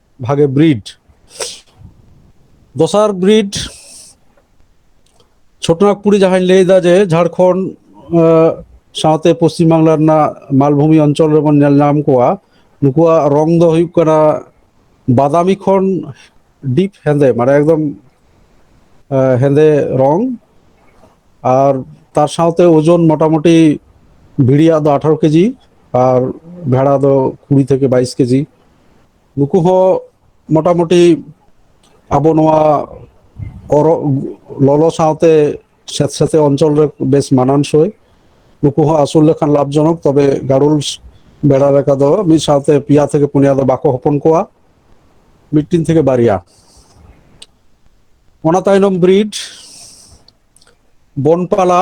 ᱵᱷᱟᱜᱮ ᱵᱨᱤᱰ ᱫᱚᱥᱟᱨ ᱵᱨᱤᱰ ᱪᱷᱳᱴᱱᱟᱜᱽᱯᱩᱨᱤ ᱡᱟᱦᱟᱸᱧ ᱞᱟᱹᱭᱫᱟ ᱡᱮ ᱡᱷᱟᱲᱠᱷᱚᱸᱰ ᱥᱟᱶᱛᱮ ᱯᱚᱥᱪᱤᱢ ᱵᱟᱝᱞᱟ ᱨᱮᱱᱟᱜ ᱢᱟᱞᱵᱷᱩᱢᱤ ᱚᱧᱪᱚᱞ ᱨᱮᱵᱚᱱ ᱧᱮᱞ ᱧᱟᱢ ᱠᱚᱣᱟ ᱱᱩᱠᱩᱣᱟᱜ ᱨᱚᱝ ᱫᱚ ᱦᱩᱭᱩᱜ ᱠᱟᱱᱟ ᱵᱟᱫᱟᱢᱤ ᱠᱷᱚᱱ ᱰᱤᱯ ᱦᱮᱸᱫᱮ ᱢᱟᱱᱮ ᱮᱠᱫᱚᱢ ᱦᱮᱸᱫᱮ ᱨᱚᱝ ᱟᱨ ᱛᱟᱨ ᱥᱟᱶᱛᱮ ᱳᱡᱚᱱ ᱢᱚᱴᱟᱢᱩᱴᱤ ᱵᱷᱤᱲᱤᱭᱟᱜ ᱫᱚ ᱟᱴᱷᱟᱨᱚ ᱠᱮᱡᱤ ᱟᱨ ᱵᱷᱮᱲᱟ ᱫᱚ ᱠᱩᱲᱤ ᱛᱷᱮᱠᱮ ᱵᱟᱭᱤᱥ ᱠᱮᱡᱤ ᱱᱩᱠᱩ ᱦᱚᱸ ᱢᱚᱴᱟᱢᱩᱴᱤ ᱟᱵᱚ ᱱᱚᱣᱟ ᱚᱨᱚᱜ ᱞᱚᱞᱚ ᱥᱟᱶᱛᱮ ᱥᱮᱸᱛ ᱥᱮᱸᱛᱮ ᱚᱧᱪᱚᱞ ᱨᱮ ᱵᱮᱥ ᱢᱟᱱᱟᱱ ᱥᱳᱭ ᱱᱩᱠᱩ ᱦᱚᱸ ᱟᱹᱥᱩᱞ ᱞᱮᱠᱷᱟᱱ ᱞᱟᱵᱷ ᱡᱚᱱᱚᱠ ᱛᱚᱵᱮ ᱜᱟᱲᱩᱞ ᱵᱮᱲᱟ ᱞᱮᱠᱟ ᱫᱚ ᱢᱤᱫ ᱥᱟᱶᱛᱮ ᱯᱮᱭᱟ ᱛᱷᱮᱠᱮ ᱯᱩᱱᱭᱟ ᱫᱚ ᱵᱟᱠᱚ ᱦᱚᱯᱚᱱ ᱠᱚᱣᱟ ᱢᱤᱫᱴᱤᱱ ᱛᱷᱮᱠᱮ ᱵᱟᱨᱭᱟ ᱚᱱᱟ ᱛᱟᱭᱱᱚᱢ ᱵᱨᱤᱰ ᱵᱚᱱᱯᱟᱞᱟ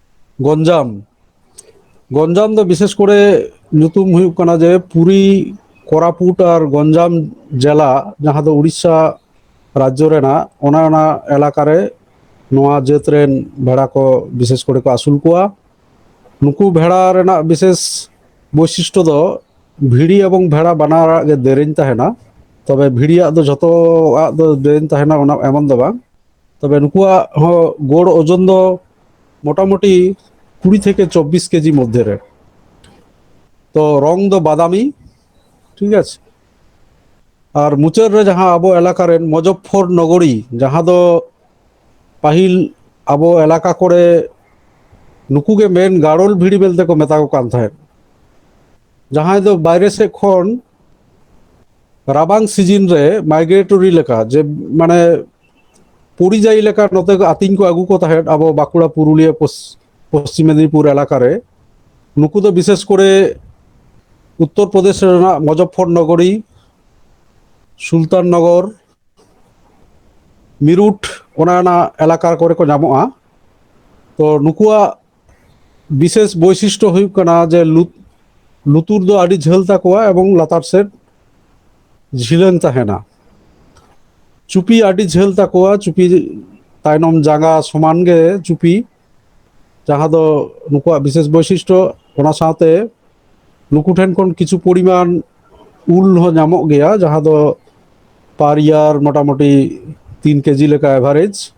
ᱜᱚᱧᱡᱟᱢ ᱜᱚᱧᱡᱟᱢ ᱫᱚ ᱵᱤᱥᱮᱥ ᱠᱚᱨᱮ ᱧᱩᱛᱩᱢ ᱦᱩᱭᱩᱜ ᱠᱟᱱᱟ ᱡᱮ ᱯᱩᱨᱤ ᱠᱚᱨᱟᱯᱩᱴ ᱟᱨ ᱜᱚᱧᱡᱟᱢ ᱡᱮᱞᱟ ᱡᱟᱦᱟᱸ ᱫᱚ ᱩᱲᱤᱥᱥᱟ ᱨᱟᱡᱽᱡᱚ ᱨᱮᱱᱟᱜ ᱚᱱᱟ ᱚᱱᱟ ᱮᱞᱟᱠᱟ ᱨᱮ ᱱᱚᱣᱟ ᱡᱟᱹᱛ ᱨᱮᱱ ᱵᱷᱮᱲᱟ ᱠᱚ ᱵᱤᱥᱮᱥ ᱠᱚᱨᱮ ᱠᱚ ᱟᱹᱥᱩᱞ ᱠᱚᱣᱟ ᱱᱩᱠᱩ ᱵᱷᱮᱲᱟ ᱨᱮᱱᱟᱜ ᱵᱤᱥᱮᱥ ᱵᱳᱭᱥᱤᱥᱴᱚ ᱫᱚ ᱵᱷᱤᱲᱤ ᱮᱵᱚᱝ ᱵᱷᱮᱲᱟ ᱵᱟᱱᱟᱨᱟᱜ ᱜᱮ ᱫᱮᱨᱮᱧ ᱛᱟᱦᱮᱱᱟ ᱛᱚᱵᱮ ᱵᱷᱤᱲᱤᱭᱟᱜ ᱫᱚ ᱡᱷᱚᱛᱚᱣᱟᱜ ᱫᱚ ᱫᱮᱨᱮᱧ ᱛᱟᱦᱮᱱᱟ ᱚᱱᱟ ᱮᱢᱚᱱ ᱫᱚ ᱵᱟᱝ ᱛᱚᱵᱮ ᱱᱩᱠᱩᱣᱟᱜ ᱦᱚᱸ ᱜᱚᱲ ᱳᱡᱚᱱ ᱫᱚ ᱢᱚᱴᱟᱢᱩᱴᱤ ᱠᱩᱲᱤ ᱛᱷᱮᱠᱮ ᱪᱚᱵᱽᱵᱤᱥ ᱠᱮᱡᱤ ᱢᱚᱫᱽᱫᱷᱮ ᱨᱮ ᱛᱚ ᱨᱚᱝ ᱫᱚ ᱵᱟᱫᱟᱢᱤ ᱴᱷᱤᱠ ᱟᱪᱷᱮ ᱟᱨ ᱢᱩᱪᱟᱹᱫ ᱨᱮ ᱡᱟᱦᱟᱸ ᱟᱵᱚ ᱮᱞᱟᱠᱟ ᱨᱮᱱ ᱢᱚᱡᱚᱯᱷᱚᱨ ᱱᱚᱜᱚᱨᱤ ᱡᱟᱦᱟᱸ ᱫᱚ ᱯᱟᱹᱦᱤᱞ ᱟᱵᱚ ᱮᱞᱟᱠᱟ ᱠᱚᱨᱮ ᱱᱩᱠᱩ ᱜᱮ ᱢᱮᱱ ᱜᱟᱲᱚᱞ ᱵᱷᱤᱲᱤ ᱢᱮᱱᱛᱮ ᱠᱚ ᱢᱮᱛᱟ ᱠᱚ ᱠᱟᱱ ᱛᱟᱦᱮᱸᱫ ᱡᱟᱦᱟᱸᱭ ᱫᱚ ᱵᱟᱭᱨᱮ ᱥᱮᱫ ᱠᱷᱚᱱ ᱨᱟᱵᱟᱝ ᱥᱤᱡᱤᱱ ᱨᱮ ᱢᱟᱭᱜᱨᱮᱴᱚᱨᱤ ᱞᱮᱠᱟ ᱡᱮ ᱢᱟᱱᱮ ᱯᱚᱨᱤᱡᱟᱭᱤ ᱞᱮᱠᱟ ᱱᱚᱛᱮ ᱟᱹᱛᱤᱧ ᱠᱚ ᱟᱹᱜᱩ ᱠᱚ ᱛᱟᱦᱮᱸᱫ ᱟᱵᱚ ᱵᱟᱸᱠᱩᱲᱟ ᱯᱩᱨᱩᱞᱤᱭᱟᱹ ᱯᱚᱥᱪᱤᱢ ᱢᱮᱫᱽᱱᱤᱯᱩᱨ ᱮᱞᱟᱠᱟ ᱨᱮ ᱱᱩᱠᱩ ᱫᱚ ᱵᱤᱥᱮᱥ ᱠᱚᱨᱮ ᱩᱛᱛᱚᱨ ᱯᱨᱚᱫᱮᱥ ᱨᱮᱱᱟᱜ ᱢᱚᱡᱚᱯᱷᱚᱨ ᱱᱚᱜᱚᱨᱤ ᱥᱩᱞᱛᱟᱱ ᱱᱚᱜᱚᱨ ᱢᱤᱨᱩᱴ ᱚᱱᱟ ᱨᱮᱱᱟᱜ ᱮᱞᱟᱠᱟ ᱠᱚᱨᱮ ᱠᱚ ᱧᱟᱢᱚᱜᱼᱟ ᱛᱚ ᱱᱩᱠᱩᱣᱟᱜ ᱵᱤᱥᱮᱥ ᱵᱳᱭᱥᱤᱥᱴᱚ ᱦᱩᱭᱩᱜ ᱠᱟᱱᱟ ᱡᱮ ᱞᱩᱛᱩᱨ ᱫᱚ ᱟᱹᱰᱤ ᱡᱷᱟᱹᱞ ᱛᱟᱠᱚᱣᱟ ᱮᱵᱚᱝ ᱞᱟᱛᱟᱨ ᱥᱮᱫ ᱡᱷᱤᱞᱟᱹᱝ ᱛᱟᱦᱮᱱᱟ ᱪᱩᱯᱤ ᱟᱹᱰᱤ ᱡᱷᱟᱹᱞ ᱛᱟᱠᱚᱣᱟ ᱪᱩᱯᱤ ᱛᱟᱭᱱᱚᱢ ᱡᱟᱸᱜᱟ ᱥᱚᱢᱟᱱ ᱜᱮ ᱪᱩᱯᱤ ᱡᱟᱦᱟᱸ ᱫᱚ ᱱᱩᱠᱩᱣᱟᱜ ᱵᱤᱥᱮᱥ ᱵᱳᱭᱥᱤᱥᱴᱚ ᱚᱱᱟ ᱥᱟᱶᱛᱮ ᱱᱩᱠᱩ ᱴᱷᱮᱱ ᱠᱷᱚᱱ ᱠᱤᱪᱷᱩ ᱯᱚᱨᱤᱢᱟᱱ ᱩᱞ ᱦᱚᱸ ᱧᱟᱢᱚᱜ ᱜᱮᱭᱟ ᱡᱟᱦᱟᱸ ᱫᱚ ᱯᱟᱨ ᱤᱭᱟᱨ ᱢᱚᱴᱟᱢᱩᱴᱤ ᱛᱤᱱ ᱠᱮᱡᱤ ᱞᱮᱠᱟ ᱮᱵᱷᱟᱨᱮᱡᱽ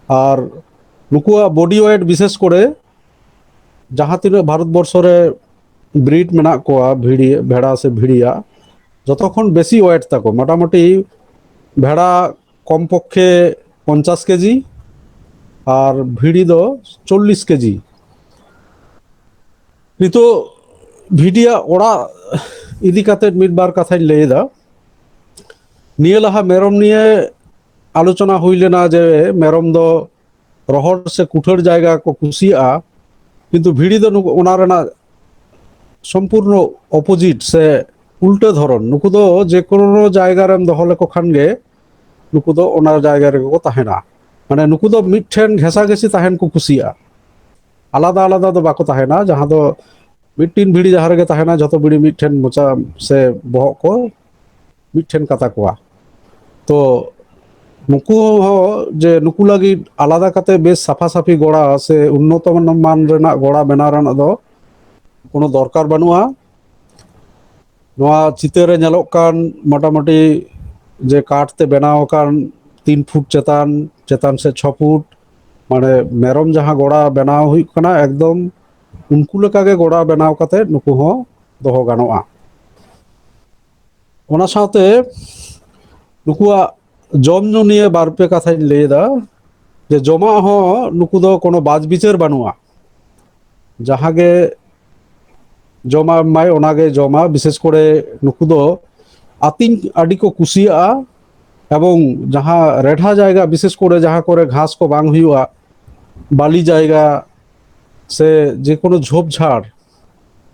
ᱟᱨ ᱱᱩᱠᱩᱣᱟᱜ ᱵᱚᱰᱤ ᱳᱭᱮᱴ ᱵᱤᱥᱮᱥ ᱠᱚᱨᱮ ᱡᱟᱦᱟᱸ ᱛᱤᱱᱟᱹᱜ ᱵᱷᱟᱨᱚᱛᱵᱚᱨᱥᱚ ᱨᱮ ᱵᱨᱤᱰ ᱢᱮᱱᱟᱜ ᱠᱚᱣᱟ ᱵᱷᱤᱲᱤ ᱵᱷᱮᱲᱟ ᱥᱮ ᱵᱷᱤᱲᱤᱭᱟᱜ ᱡᱚᱛᱚ ᱠᱷᱚᱱ ᱵᱮᱥᱤ ᱳᱭᱮᱴ ᱛᱟᱠᱚ ᱢᱚᱴᱟᱢᱩᱴᱤ ᱵᱷᱮᱲᱟ ᱠᱚᱢ ᱯᱚᱠᱠᱷᱮ ᱯᱚᱧᱪᱟᱥ ᱠᱮᱡᱤ ᱟᱨ ᱵᱷᱤᱲᱤ ᱫᱚ ᱪᱚᱞᱞᱤᱥ ᱠᱮᱡᱤ ᱱᱤᱛᱚᱜ ᱵᱷᱤᱰᱤᱭᱟᱜ ᱚᱲᱟᱜ ᱤᱫᱤ ᱠᱟᱛᱮ ᱢᱤᱫ ᱵᱟᱨ ᱠᱟᱛᱷᱟᱧ ᱞᱟᱹᱭᱮᱫᱟ ᱱᱤᱭᱟᱹ ᱞᱟᱦᱟ ᱢᱮᱨᱚᱢ ᱱᱤᱭᱮ ᱟᱞᱳᱪᱚᱱᱟ ᱦᱩᱭ ᱞᱮᱱᱟ ᱡᱮ ᱢᱮᱨᱚᱢ ᱫᱚ ᱨᱚᱦᱚᱲ ᱥᱮ ᱠᱩᱴᱷᱟᱹᱲ ᱡᱟᱭᱜᱟ ᱠᱚ ᱠᱩᱥᱤᱭᱟᱜᱼᱟ ᱠᱤᱱᱛᱩ ᱵᱷᱤᱲᱤ ᱫᱚ ᱱᱩᱠᱩ ᱚᱱᱟ ᱨᱮᱱᱟᱜ ᱥᱚᱢᱯᱩᱨᱱᱚ ᱚᱯᱳᱡᱤᱴ ᱥᱮ ᱩᱞᱴᱟᱹ ᱫᱷᱚᱨᱚᱱ ᱱᱩᱠᱩ ᱫᱚ ᱡᱮ ᱠᱳᱱᱳ ᱡᱟᱭᱜᱟ ᱨᱮᱢ ᱫᱚᱦᱚ ᱞᱮᱠᱚ ᱠᱷᱟᱱ ᱜᱮ ᱱᱩᱠᱩ ᱫᱚ ᱚᱱᱟ ᱡᱟᱭᱜᱟ ᱨᱮᱜᱮ ᱠᱚ ᱛᱟᱦᱮᱱᱟ ᱢᱟᱱᱮ ᱱᱩᱠᱩ ᱫᱚ ᱢᱤᱫᱴᱷᱮᱱ ᱜᱷᱮᱥᱟ ᱜᱷᱮᱥᱤ ᱛᱟᱦᱮᱱ ᱠᱚ ᱠᱩᱥᱤᱭᱟᱜᱼᱟ ᱟᱞᱟᱫᱟ ᱟᱞᱟᱫᱟ ᱫᱚ ᱵᱟᱠᱚ ᱛᱟᱦᱮᱱᱟ ᱡᱟᱦᱟᱸ ᱫᱚ ᱢᱤᱫᱴᱤᱱ ᱵᱷᱤᱲᱤ ᱡᱟᱦᱟᱸ ᱨᱮᱜᱮ ᱛᱟᱦᱮᱱᱟ ᱡᱷᱚᱛᱚ ᱵᱷᱤᱲᱤ ᱢᱤᱫᱴᱷᱮᱱ ᱢᱚᱪᱟ ᱥᱮ ᱵᱚᱦᱚᱜ ᱠᱚ ᱢᱤᱫᱴᱷᱮᱱ ᱠᱟᱛᱟ ᱠᱚᱣᱟ ᱛᱚ ᱱᱩᱠᱩ ᱦᱚᱸ ᱡᱮ ᱱᱩᱠᱩ ᱞᱟᱹᱜᱤᱫ ᱟᱞᱟᱫᱟ ᱠᱟᱛᱮ ᱵᱮᱥ ᱥᱟᱯᱷᱟ ᱥᱟᱯᱷᱤ ᱜᱚᱲᱟ ᱥᱮ ᱩᱱᱱᱚᱛᱚ ᱢᱟᱱ ᱨᱮᱱᱟᱜ ᱜᱚᱲᱟ ᱵᱮᱱᱟᱣ ᱨᱮᱱᱟᱜ ᱫᱚ ᱠᱳᱱᱳ ᱫᱚᱨᱠᱟᱨ ᱵᱟᱹᱱᱩᱜᱼᱟ ᱱᱚᱣᱟ ᱪᱤᱛᱟᱹᱨ ᱨᱮ ᱧᱮᱞᱚᱜ ᱠᱟᱱ ᱢᱚᱴᱟᱢᱩᱴᱤ ᱡᱮ ᱠᱟᱴ ᱛᱮ ᱵᱮᱱᱟᱣ ᱟᱠᱟᱱ ᱛᱤᱱ ᱯᱷᱩᱴ ᱪᱮᱛᱟᱱ ᱪᱮᱛᱟᱱ ᱥᱮ ᱪᱷᱚ ᱯᱷᱩᱴ ᱢᱟᱱᱮ ᱢᱮᱨᱚᱢ ᱡᱟᱦᱟᱸ ᱜᱚᱲᱟ ᱵᱮᱱᱟᱣ ᱦᱩᱭᱩᱜ ᱠᱟᱱᱟ ᱮᱠᱫᱚᱢ ᱩᱱᱠᱩ ᱞᱮᱠᱟᱜᱮ ᱜᱚᱲᱟ ᱵᱮᱱᱟᱣ ᱠᱟᱛᱮ ᱱᱩᱠᱩ ᱦᱚᱸ ᱫᱚᱦᱚ ᱜᱟᱱᱚᱜᱼᱟ ᱚᱱᱟ ᱥᱟᱶᱛᱮ ᱱᱩᱠᱩᱣᱟᱜ ᱡᱚᱢ ᱧᱩ ᱱᱤᱭᱮ ᱵᱟᱨ ᱯᱮ ᱠᱟᱛᱷᱟᱧ ᱞᱟᱹᱭ ᱮᱫᱟ ᱡᱮ ᱡᱚᱢᱟᱜ ᱦᱚᱸ ᱱᱩᱠᱩ ᱫᱚ ᱠᱳᱱᱳ ᱵᱟᱡᱽ ᱵᱤᱪᱟᱹᱨ ᱵᱟᱹᱱᱩᱜᱼᱟ ᱡᱟᱦᱟᱸ ᱜᱮ ᱡᱚᱢᱟᱜ ᱮᱢᱟᱭ ᱚᱱᱟᱜᱮ ᱡᱚᱢᱟ ᱵᱤᱥᱮᱥ ᱠᱚᱨᱮ ᱱᱩᱠᱩ ᱫᱚ ᱟᱹᱛᱤᱧ ᱟᱹᱰᱤ ᱠᱚ ᱠᱩᱥᱤᱭᱟᱜᱼᱟ ᱮᱵᱚᱝ ᱡᱟᱦᱟᱸ ᱨᱮᱰᱷᱟ ᱡᱟᱭᱜᱟ ᱵᱤᱥᱮᱥ ᱠᱚᱨᱮ ᱡᱟᱦᱟᱸ ᱠᱚᱨᱮ ᱜᱷᱟᱥ ᱠᱚ ᱵᱟᱝ ᱦᱩᱭᱩᱜᱼᱟ ᱵᱟᱹᱞᱤ ᱡᱟᱭᱜᱟ ᱥᱮ ᱡᱮ ᱠᱳᱱᱳ ᱡᱷᱳᱯ ᱡᱷᱟᱲ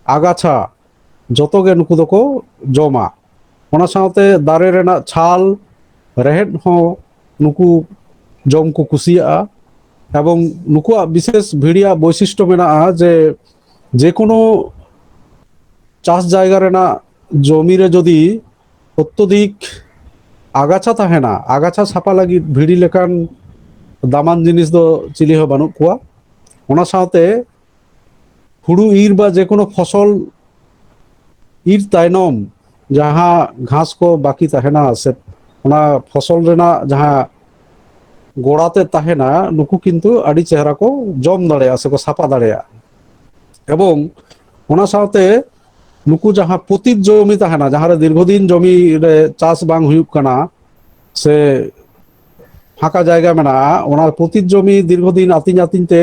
ᱟᱜᱟᱪᱷᱟ ᱡᱚᱛᱚ ᱜᱮ ᱱᱩᱠᱩ ᱫᱚᱠᱚ ᱡᱚᱢᱟ ᱚᱱᱟ ᱥᱟᱶᱛᱮ ᱫᱟᱨᱮ ᱨᱮᱱᱟᱜ ᱪᱷᱟᱞ ᱨᱮᱦᱮᱫ ᱦᱚᱸ ᱱᱩᱠᱩ ᱡᱚᱢ ᱠᱚ ᱠᱩᱥᱤᱭᱟᱜᱼᱟ ᱮᱵᱚᱝ ᱱᱩᱠᱩᱣᱟᱜ ᱵᱤᱥᱮᱥ ᱵᱷᱤᱲᱤᱭᱟᱜ ᱵᱳᱭᱥᱤᱥᱴᱚ ᱢᱮᱱᱟᱜᱼᱟ ᱡᱮ ᱡᱮ ᱠᱳᱱᱳ ᱪᱟᱥ ᱡᱟᱭᱜᱟ ᱨᱮᱱᱟᱜ ᱡᱚᱢᱤ ᱨᱮ ᱡᱩᱫᱤ ᱚᱛᱛᱚᱫᱤᱠ ᱟᱜᱟᱪᱷᱟ ᱛᱟᱦᱮᱱᱟ ᱟᱜᱟᱪᱷᱟ ᱥᱟᱯᱟ ᱞᱟᱹᱜᱤᱫ ᱵᱷᱤᱲᱤ ᱞᱮᱠᱟᱱ ᱫᱟᱢᱟᱱ ᱡᱤᱱᱤᱥ ᱫᱚ ᱪᱤᱞᱤ ᱦᱚᱸ ᱵᱟᱹᱱᱩᱜ ᱠᱚᱣᱟ ᱚᱱᱟ ᱥᱟᱶᱛᱮ ᱦᱩᱲᱩ ᱤᱨ ᱵᱟ ᱡᱮᱠᱳᱱᱳ ᱯᱷᱚᱥᱚᱞ ᱤᱨ ᱛᱟᱭᱱᱚᱢ ᱡᱟᱦᱟᱸ ᱜᱷᱟᱥ ᱠᱚ ᱵᱟᱹᱠᱤ ᱛᱟᱦᱮᱱᱟ ᱥᱮ ᱚᱱᱟ ᱯᱷᱚᱥᱚᱞ ᱨᱮᱱᱟᱜ ᱡᱟᱦᱟᱸ ᱜᱚᱲᱟ ᱛᱮᱫ ᱛᱟᱦᱮᱱᱟ ᱱᱩᱠᱩ ᱠᱤᱱᱛᱩ ᱟᱹᱰᱤ ᱪᱮᱦᱨᱟ ᱠᱚ ᱡᱚᱢ ᱫᱟᱲᱮᱭᱟᱜᱼᱟ ᱥᱮᱠᱚ ᱥᱟᱯᱷᱟ ᱫᱟᱲᱮᱭᱟᱜᱼᱟ ᱮᱵᱚᱝ ᱚᱱᱟ ᱥᱟᱶᱛᱮ ᱱᱩᱠᱩ ᱡᱟᱦᱟᱸ ᱯᱚᱛᱤᱛ ᱡᱚᱢᱤ ᱛᱟᱦᱮᱱᱟ ᱡᱟᱦᱟᱸᱨᱮ ᱫᱤᱨᱜᱷᱚ ᱫᱤᱱ ᱡᱚᱢᱤ ᱨᱮ ᱪᱟᱥ ᱵᱟᱝ ᱦᱩᱭᱩᱜ ᱠᱟᱱᱟ ᱥᱮ ᱯᱷᱟᱸᱠᱟ ᱡᱟᱭᱜᱟ ᱢᱮᱱᱟᱜᱼᱟ ᱚᱱᱟ ᱯᱚᱛᱤᱛ ᱡᱚᱢᱤ ᱫᱤᱨᱜᱷᱚᱫᱤᱱ ᱟᱹᱛᱤᱧ ᱟᱹᱛᱤᱧ ᱛᱮ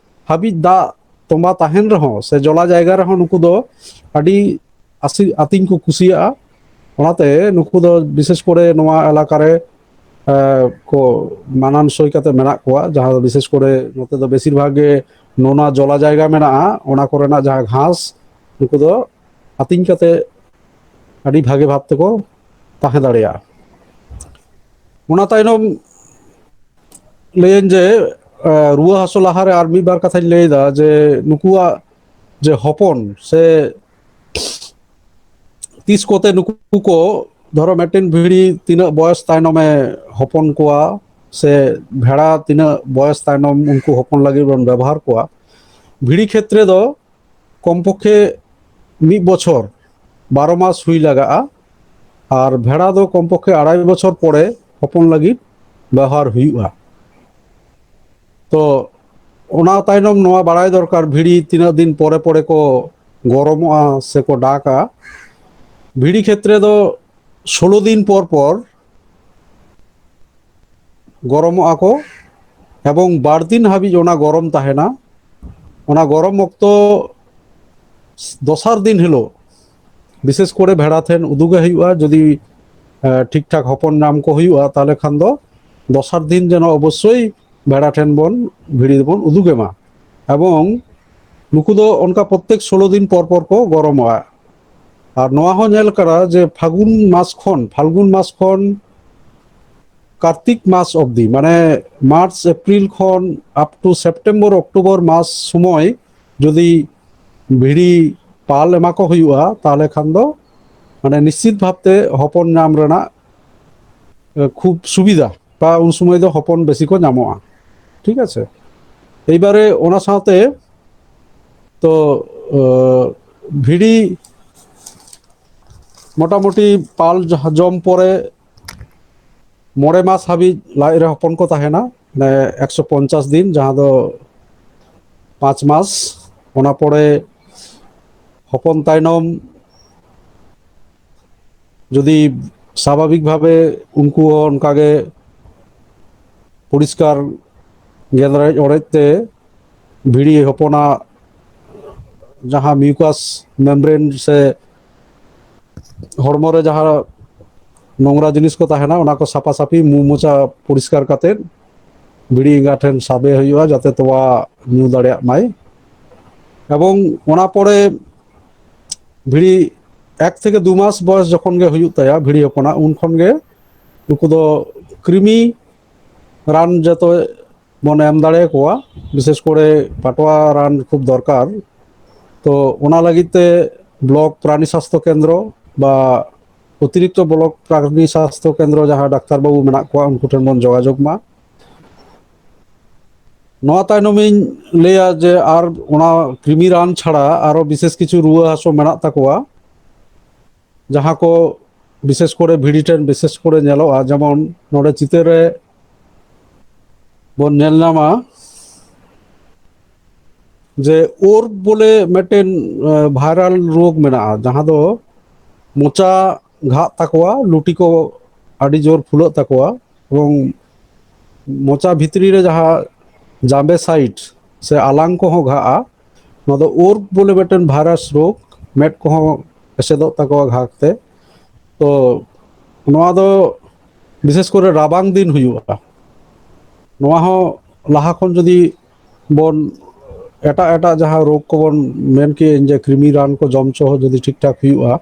ᱦᱟᱹᱵᱤᱡ ᱫᱟᱜ ᱛᱚᱸᱵᱟ ᱛᱟᱦᱮᱱ ᱨᱮᱦᱚᱸ ᱥᱮ ᱡᱚᱞᱟ ᱡᱟᱭᱜᱟ ᱨᱮᱦᱚᱸ ᱱᱩᱠᱩ ᱫᱚ ᱟᱹᱰᱤ ᱟᱥᱤ ᱟᱹᱛᱤᱧ ᱠᱚ ᱠᱩᱥᱤᱭᱟᱜᱼᱟ ᱚᱱᱟᱛᱮ ᱱᱩᱠᱩ ᱫᱚ ᱵᱤᱥᱮᱥ ᱠᱚᱨᱮ ᱱᱚᱣᱟ ᱮᱞᱟᱠᱟ ᱨᱮ ᱠᱚ ᱢᱟᱱᱟᱱ ᱥᱳᱭ ᱠᱟᱛᱮ ᱢᱮᱱᱟᱜ ᱠᱚᱣᱟ ᱡᱟᱦᱟᱸ ᱫᱚ ᱵᱤᱥᱮᱥ ᱠᱚᱨᱮ ᱱᱚᱛᱮ ᱫᱚ ᱵᱮᱥᱤᱨ ᱵᱷᱟᱜᱽ ᱜᱮ ᱱᱚᱣᱟ ᱡᱚᱞᱟ ᱡᱟᱭᱜᱟ ᱢᱮᱱᱟᱜᱼᱟ ᱚᱱᱟ ᱠᱚᱨᱮᱱᱟᱜ ᱡᱟᱦᱟᱸ ᱜᱷᱟᱥ ᱱᱩᱠᱩ ᱫᱚ ᱟᱹᱛᱤᱧ ᱠᱟᱛᱮ ᱟᱹᱰᱤ ᱵᱷᱟᱜᱮ ᱵᱷᱟᱵ ᱛᱮᱠᱚ ᱛᱟᱦᱮᱸ ᱫᱟᱲᱮᱭᱟᱜᱼᱟ ᱚᱱᱟ ᱛᱟᱭᱱᱚᱢ ᱞᱟᱹᱭᱟᱹᱧ ᱡᱮ ᱨᱩᱣᱟᱹ ᱦᱟᱹᱥᱩ ᱞᱟᱦᱟᱨᱮ ᱟᱨ ᱢᱤᱫ ᱵᱟᱨ ᱠᱟᱛᱷᱟᱧ ᱞᱟᱹᱭᱫᱟ ᱡᱮ ᱱᱩᱠᱩᱣᱟᱜ ᱡᱮ ᱦᱚᱯᱚᱱ ᱥᱮ ᱛᱤᱥ ᱠᱚᱛᱮ ᱱᱩᱠᱩ ᱠᱚ ᱫᱷᱚᱨᱚ ᱢᱤᱫᱴᱮᱱ ᱵᱷᱤᱲᱤ ᱛᱤᱱᱟᱹᱜ ᱵᱚᱭᱚᱥ ᱛᱟᱭᱱᱚᱢᱮ ᱦᱚᱯᱚᱱ ᱠᱚᱣᱟ ᱥᱮ ᱵᱷᱮᱲᱟ ᱛᱤᱱᱟᱹᱜ ᱵᱚᱭᱚᱥ ᱛᱟᱭᱱᱚᱢ ᱩᱱᱠᱩ ᱦᱚᱯᱚᱱ ᱞᱟᱹᱜᱤᱫ ᱵᱚᱱ ᱵᱮᱵᱚᱦᱟᱨ ᱠᱚᱣᱟ ᱵᱷᱤᱲᱤ ᱠᱷᱮᱛᱨᱮ ᱫᱚ ᱠᱚᱢᱯᱚᱠᱷᱮ ᱢᱤᱫ ᱵᱚᱪᱷᱚᱨ ᱵᱟᱨᱚ ᱢᱟᱥ ᱦᱩᱭ ᱞᱟᱜᱟᱜᱼᱟ ᱟᱨ ᱵᱷᱮᱲᱟ ᱫᱚ ᱠᱚᱢᱯᱚᱠᱷᱮ ᱟᱲᱟᱭ ᱵᱚᱪᱷᱚᱨ ᱯᱚᱨᱮ ᱦᱚᱯᱚᱱ ᱞᱟᱹᱜᱤᱫ ᱵᱮᱣᱦᱟᱨ ᱦᱩᱭᱩᱜᱼᱟ ᱛᱚ ᱚᱱᱟ ᱛᱟᱭᱱᱚᱢ ᱱᱚᱣᱟ ᱵᱟᱲᱟᱭ ᱫᱚᱨᱠᱟর ᱵᱷᱤᱲᱤ ᱛᱤᱱᱟᱹᱜ ᱫᱤᱱ ᱯᱚᱨᱮ ᱯᱚᱨᱮ ᱠᱚ ᱜᱚᱨᱚᱢᱚᱜᱼᱟ ᱥᱮᱠᱚ ᱰᱟᱠᱟ ᱵᱷᱤᱲᱤ ᱠᱷᱮᱛᱨᱮ ᱫᱚ ᱥᱳᱞᱳ ᱫᱤᱱ ᱯᱚᱨ ᱯᱚᱨ ᱜᱚᱨᱚᱢᱚᱜᱼᱟ ᱠᱚ ᱮᱵᱚᱝ ᱵᱟᱨ ᱫᱤᱱ ᱦᱟᱹᱵᱤᱡ ᱚᱱᱟ ᱜᱚᱨᱚᱢ ᱛᱟᱦᱮᱱᱟ ᱚᱱᱟ ᱜᱚᱨᱚᱢ ᱚᱠᱛᱚ ᱫᱚᱥᱟᱨ ᱫᱤᱱ ᱦᱤᱞᱳᱜ ᱵᱤᱥᱮᱥ ᱠᱚᱨᱮ ᱵᱷᱮᱲᱟ ᱴᱷᱮᱱ ᱩᱫᱩᱜᱮ ᱦᱩᱭᱩᱜᱼᱟ ᱡᱩᱫᱤ ᱴᱷᱤᱠ ᱴᱷᱟᱠ ᱦᱚᱯᱚᱱ ᱧᱟᱢ ᱠᱚ ᱦᱩᱭᱩᱜᱼᱟ ᱛᱟᱦᱚᱞᱮ ᱠᱷᱟᱱ ᱫᱚ ᱫᱚᱥᱟᱨ ᱫᱤᱱ ᱡᱮᱱᱚ ᱚᱵᱚᱥᱥᱳᱭ ᱵᱷᱮᱲᱟ ᱴᱷᱮᱱ ᱵᱚᱱ ᱵᱷᱤᱲᱤ ᱫᱚᱵᱚᱱ ᱩᱫᱩᱜᱮ ᱢᱟ ᱮᱵᱚᱝ ᱱᱩᱠᱩ ᱫᱚ ᱚᱱᱠᱟ ᱯᱨᱚᱛᱛᱮᱠ ᱥᱳᱞᱳ ᱫᱤᱱ ᱯᱚᱨ ᱯᱚᱨ ᱠᱚ ᱜᱚᱨᱚᱢᱚᱜᱼᱟ ᱟᱨ ᱱᱚᱣᱟ ᱦᱚᱸ ᱧᱮᱞ ᱠᱟᱱᱟ ᱡᱮ ᱯᱷᱟᱹᱜᱩᱱ ᱢᱟᱥ ᱠᱷᱚᱱ ᱯᱷᱟᱞᱜᱩᱱ ᱢᱟᱥ ᱠᱷᱚᱱ ᱠᱟᱨᱛᱤᱠ ᱢᱟᱥ ᱚᱵᱫᱤ ᱢᱟᱱᱮ ᱢᱟᱨᱪ ᱮᱯᱨᱤᱞ ᱠᱷᱚᱱ ᱟᱯ ᱴᱩ ᱥᱮᱯᱴᱮᱢᱵᱚᱨ ᱚᱠᱴᱳᱵᱚᱨ ᱢᱟᱥ ᱥᱚᱢᱚᱭ ᱡᱩᱫᱤ ᱵᱷᱤᱲᱤ ᱯᱟᱞ ᱮᱢᱟ ᱠᱚ ᱦᱩᱭᱩᱜᱼᱟ ᱛᱟᱦᱚᱞᱮ ᱠᱷᱟᱱ ᱫᱚ ᱢᱟᱱᱮ ᱱᱤᱥᱪᱤᱛ ᱵᱷᱟᱵᱛᱮ ᱦᱚᱯᱚᱱ ᱧᱟᱢ ᱨᱮᱱᱟᱜ ᱠᱷᱩᱵ ᱥᱩᱵᱤᱫᱷᱟ ᱵᱟ ᱩᱱ ᱥᱚᱢᱚᱭ ᱫᱚ ᱦᱚᱯᱚᱱ ᱵᱮᱥᱤ ᱠᱚ ᱧᱟᱢᱚᱜᱼᱟ ᱴᱷᱤᱠ ᱟᱪᱷᱮ ᱮᱵᱟᱨᱮ ᱚᱱᱟ ᱥᱟᱶᱛᱮ ᱛᱚ ᱵᱷᱤᱲᱤ ᱢᱚᱴᱟᱢᱩᱴᱤ ᱯᱟᱞ ᱡᱚᱢ ᱯᱚᱨᱮ ᱢᱚᱬᱮ ᱢᱟᱥ ᱦᱟᱹᱵᱤᱡ ᱞᱟᱡ ᱨᱮ ᱦᱚᱯᱚᱱ ᱠᱚ ᱛᱟᱦᱮᱱᱟ ᱢᱟᱱᱮ ᱮᱠᱥᱚ ᱯᱚᱧᱪᱟᱥ ᱫᱤᱱ ᱡᱟᱦᱟᱸ ᱫᱚ ᱯᱟᱸᱪ ᱢᱟᱥ ᱚᱱᱟ ᱯᱚᱨᱮ ᱦᱚᱯᱚᱱ ᱛᱟᱭᱱᱚᱢ ᱡᱩᱫᱤ ᱥᱟᱵᱷᱟᱵᱤᱠ ᱵᱷᱟᱵᱮ ᱩᱱᱠᱩ ᱦᱚᱸ ᱚᱱᱠᱟᱜᱮ ᱯᱚᱨᱤᱥᱠᱟᱨ ᱜᱮᱸᱫᱽᱨᱮᱡ ᱚᱲᱮᱡ ᱛᱮ ᱵᱷᱤᱲᱤ ᱦᱚᱯᱚᱱᱟᱜ ᱡᱟᱦᱟᱸ ᱢᱤᱭᱩᱠᱟᱥ ᱢᱮᱢᱵᱨᱮᱱ ᱥᱮ ᱦᱚᱲᱢᱚ ᱨᱮ ᱡᱟᱦᱟᱸ ᱱᱚᱝᱨᱟ ᱡᱤᱱᱤᱥ ᱠᱚ ᱛᱟᱦᱮᱱᱟ ᱚᱱᱟ ᱠᱚ ᱥᱟᱯᱷᱟ ᱥᱟᱹᱯᱷᱤ ᱢᱩ ᱢᱚᱪᱟ ᱯᱚᱨᱤᱥᱠᱟᱨ ᱠᱟᱛᱮᱫ ᱵᱷᱤᱲᱤ ᱮᱸᱜᱟ ᱴᱷᱮᱱ ᱥᱟᱵᱮ ᱦᱩᱭᱩᱜᱼᱟ ᱡᱟᱛᱮ ᱛᱚᱣᱟ ᱧᱩ ᱫᱟᱲᱮᱭᱟᱜ ᱢᱟᱭ ᱮᱵᱚᱝ ᱚᱱᱟ ᱯᱚᱨᱮ ᱵᱷᱤᱲᱤ ᱮᱠ ᱛᱷᱮᱠᱮ ᱫᱩ ᱢᱟᱥ ᱵᱚᱭᱚᱥ ᱡᱚᱠᱷᱚᱱ ᱜᱮ ᱦᱩᱭᱩᱜ ᱛᱟᱭᱟ ᱵᱷᱤᱲᱤ ᱦᱚᱯᱚᱱᱟᱜ ᱩᱱ ᱠᱷᱚᱱ ᱜᱮ ᱱᱩᱠᱩ ᱫᱚ ᱠᱨᱤᱢᱤ ᱨᱟᱱ ᱡᱚᱛᱚ ᱵᱚᱱ ᱮᱢ ᱫᱟᱲᱮ ᱟᱠᱚᱣᱟ ᱵᱤᱥᱮᱥ ᱠᱚᱨᱮ ᱯᱟᱴᱣᱟ ᱨᱟᱱ ᱠᱷᱩᱵ ᱫᱚᱨᱠᱟর ᱛᱚ ᱚᱱᱟ ᱞᱟᱹᱜᱤᱫ ᱛᱮ ᱵᱞᱚᱠ ᱯᱨᱟᱱᱤ ᱥᱟᱥᱛᱷᱚ ᱠᱮᱱᱫᱨᱚ ᱵᱟ ᱚᱛᱤᱨᱤᱠᱛᱚ ᱵᱞᱚᱠ ᱯᱨᱟᱱᱤ ᱥᱟᱥᱛᱷᱚ ᱠᱮᱱᱫᱨᱚ ᱡᱟᱦᱟᱸ ᱰᱟᱠᱛᱟᱨ ᱵᱟᱹᱵᱩ ᱢᱮᱱᱟᱜ ᱠᱚᱣᱟ ᱩᱱᱠᱩ ᱴᱷᱮᱱ ᱵᱚᱱ ᱡᱳᱜᱟᱡᱳᱜᱽ ᱢᱟ ᱱᱚᱣᱟ ᱛᱟᱭᱱᱚᱢᱤᱧ ᱞᱟᱹᱭᱟ ᱡᱮ ᱟᱨ ᱚᱱᱟ ᱠᱨᱤᱢᱤ ᱨᱟᱱ ᱪᱷᱟᱲᱟ ᱟᱨᱚ ᱵᱤᱥᱮᱥ ᱠᱤᱪᱷᱩ ᱨᱩᱣᱟᱹ ᱦᱟᱹᱥᱩ ᱢᱮᱱᱟᱜ ᱛᱟᱠᱚᱣᱟ ᱡᱟᱦᱟᱸ ᱠᱚ ᱵᱤᱥᱮᱥ ᱠᱚᱨᱮ ᱵᱷᱤᱰᱤ ᱴᱨᱮᱱ ᱵᱤᱥᱮᱥ ᱠᱚᱨᱮ ᱧᱮᱞᱚᱜᱼᱟ ᱡᱮᱢᱚᱱ ᱱᱚᱰᱮ ᱪᱤᱛᱟᱹᱨ ᱨᱮ ᱵᱚᱱ ᱧᱮᱞ ᱧᱟᱢᱟ ᱡᱮ ᱳᱨ ᱵᱚᱞᱮ ᱢᱤᱫᱴᱮᱱ ᱵᱷᱟᱭᱨᱟᱞ ᱨᱳᱜᱽ ᱢᱮᱱᱟᱜᱼᱟ ᱡᱟᱦᱟᱸ ᱫᱚ ᱢᱚᱪᱟ ᱜᱷᱟᱜ ᱛᱟᱠᱚᱣᱟ ᱞᱩᱴᱤ ᱠᱚ ᱟᱹᱰᱤ ᱡᱳᱨ ᱯᱷᱩᱞᱟᱹᱜ ᱛᱟᱠᱚᱣᱟ ᱮᱵᱚᱝ ᱢᱚᱪᱟ ᱵᱷᱤᱛᱨᱤ ᱨᱮ ᱡᱟᱦᱟᱸ ᱡᱟᱵᱮ ᱥᱟᱭᱤᱴ ᱥᱮ ᱟᱞᱟᱝ ᱠᱚᱦᱚᱸ ᱜᱷᱟᱜᱼᱟ ᱱᱚᱣᱟ ᱫᱚ ᱳᱨᱵ ᱵᱚᱞᱮ ᱢᱤᱫᱴᱮᱱ ᱵᱷᱟᱭᱨᱟᱥ ᱨᱳᱜᱽ ᱢᱮᱫ ᱠᱚᱦᱚᱸ ᱮᱥᱮᱫᱚᱜ ᱛᱟᱠᱚᱣᱟ ᱜᱷᱟᱜᱽ ᱛᱮ ᱛᱚ ᱱᱚᱣᱟ ᱫᱚ ᱵᱤᱥᱮᱥ ᱠᱚᱨᱮ ᱨᱟᱵᱟᱝ ᱫᱤᱱ ᱦᱩᱭᱩᱜᱼᱟ ᱱᱚᱣᱟ ᱦᱚᱸ ᱞᱟᱦᱟ ᱠᱷᱚᱱ ᱡᱩᱫᱤ ᱵᱚᱱ ᱮᱴᱟᱜ ᱮᱴᱟᱜ ᱡᱟᱦᱟᱸ ᱨᱳᱜᱽ ᱠᱚᱵᱚᱱ ᱢᱮᱱ ᱠᱮᱫ ᱡᱮ ᱠᱨᱤᱢᱤ ᱨᱟᱱ ᱠᱚ ᱡᱚᱢ ᱦᱚᱪᱚ ᱦᱚᱸ ᱡᱩᱫᱤ ᱴᱷᱤᱠ ᱴᱷᱟᱠ ᱦᱩᱭᱩᱜᱼᱟ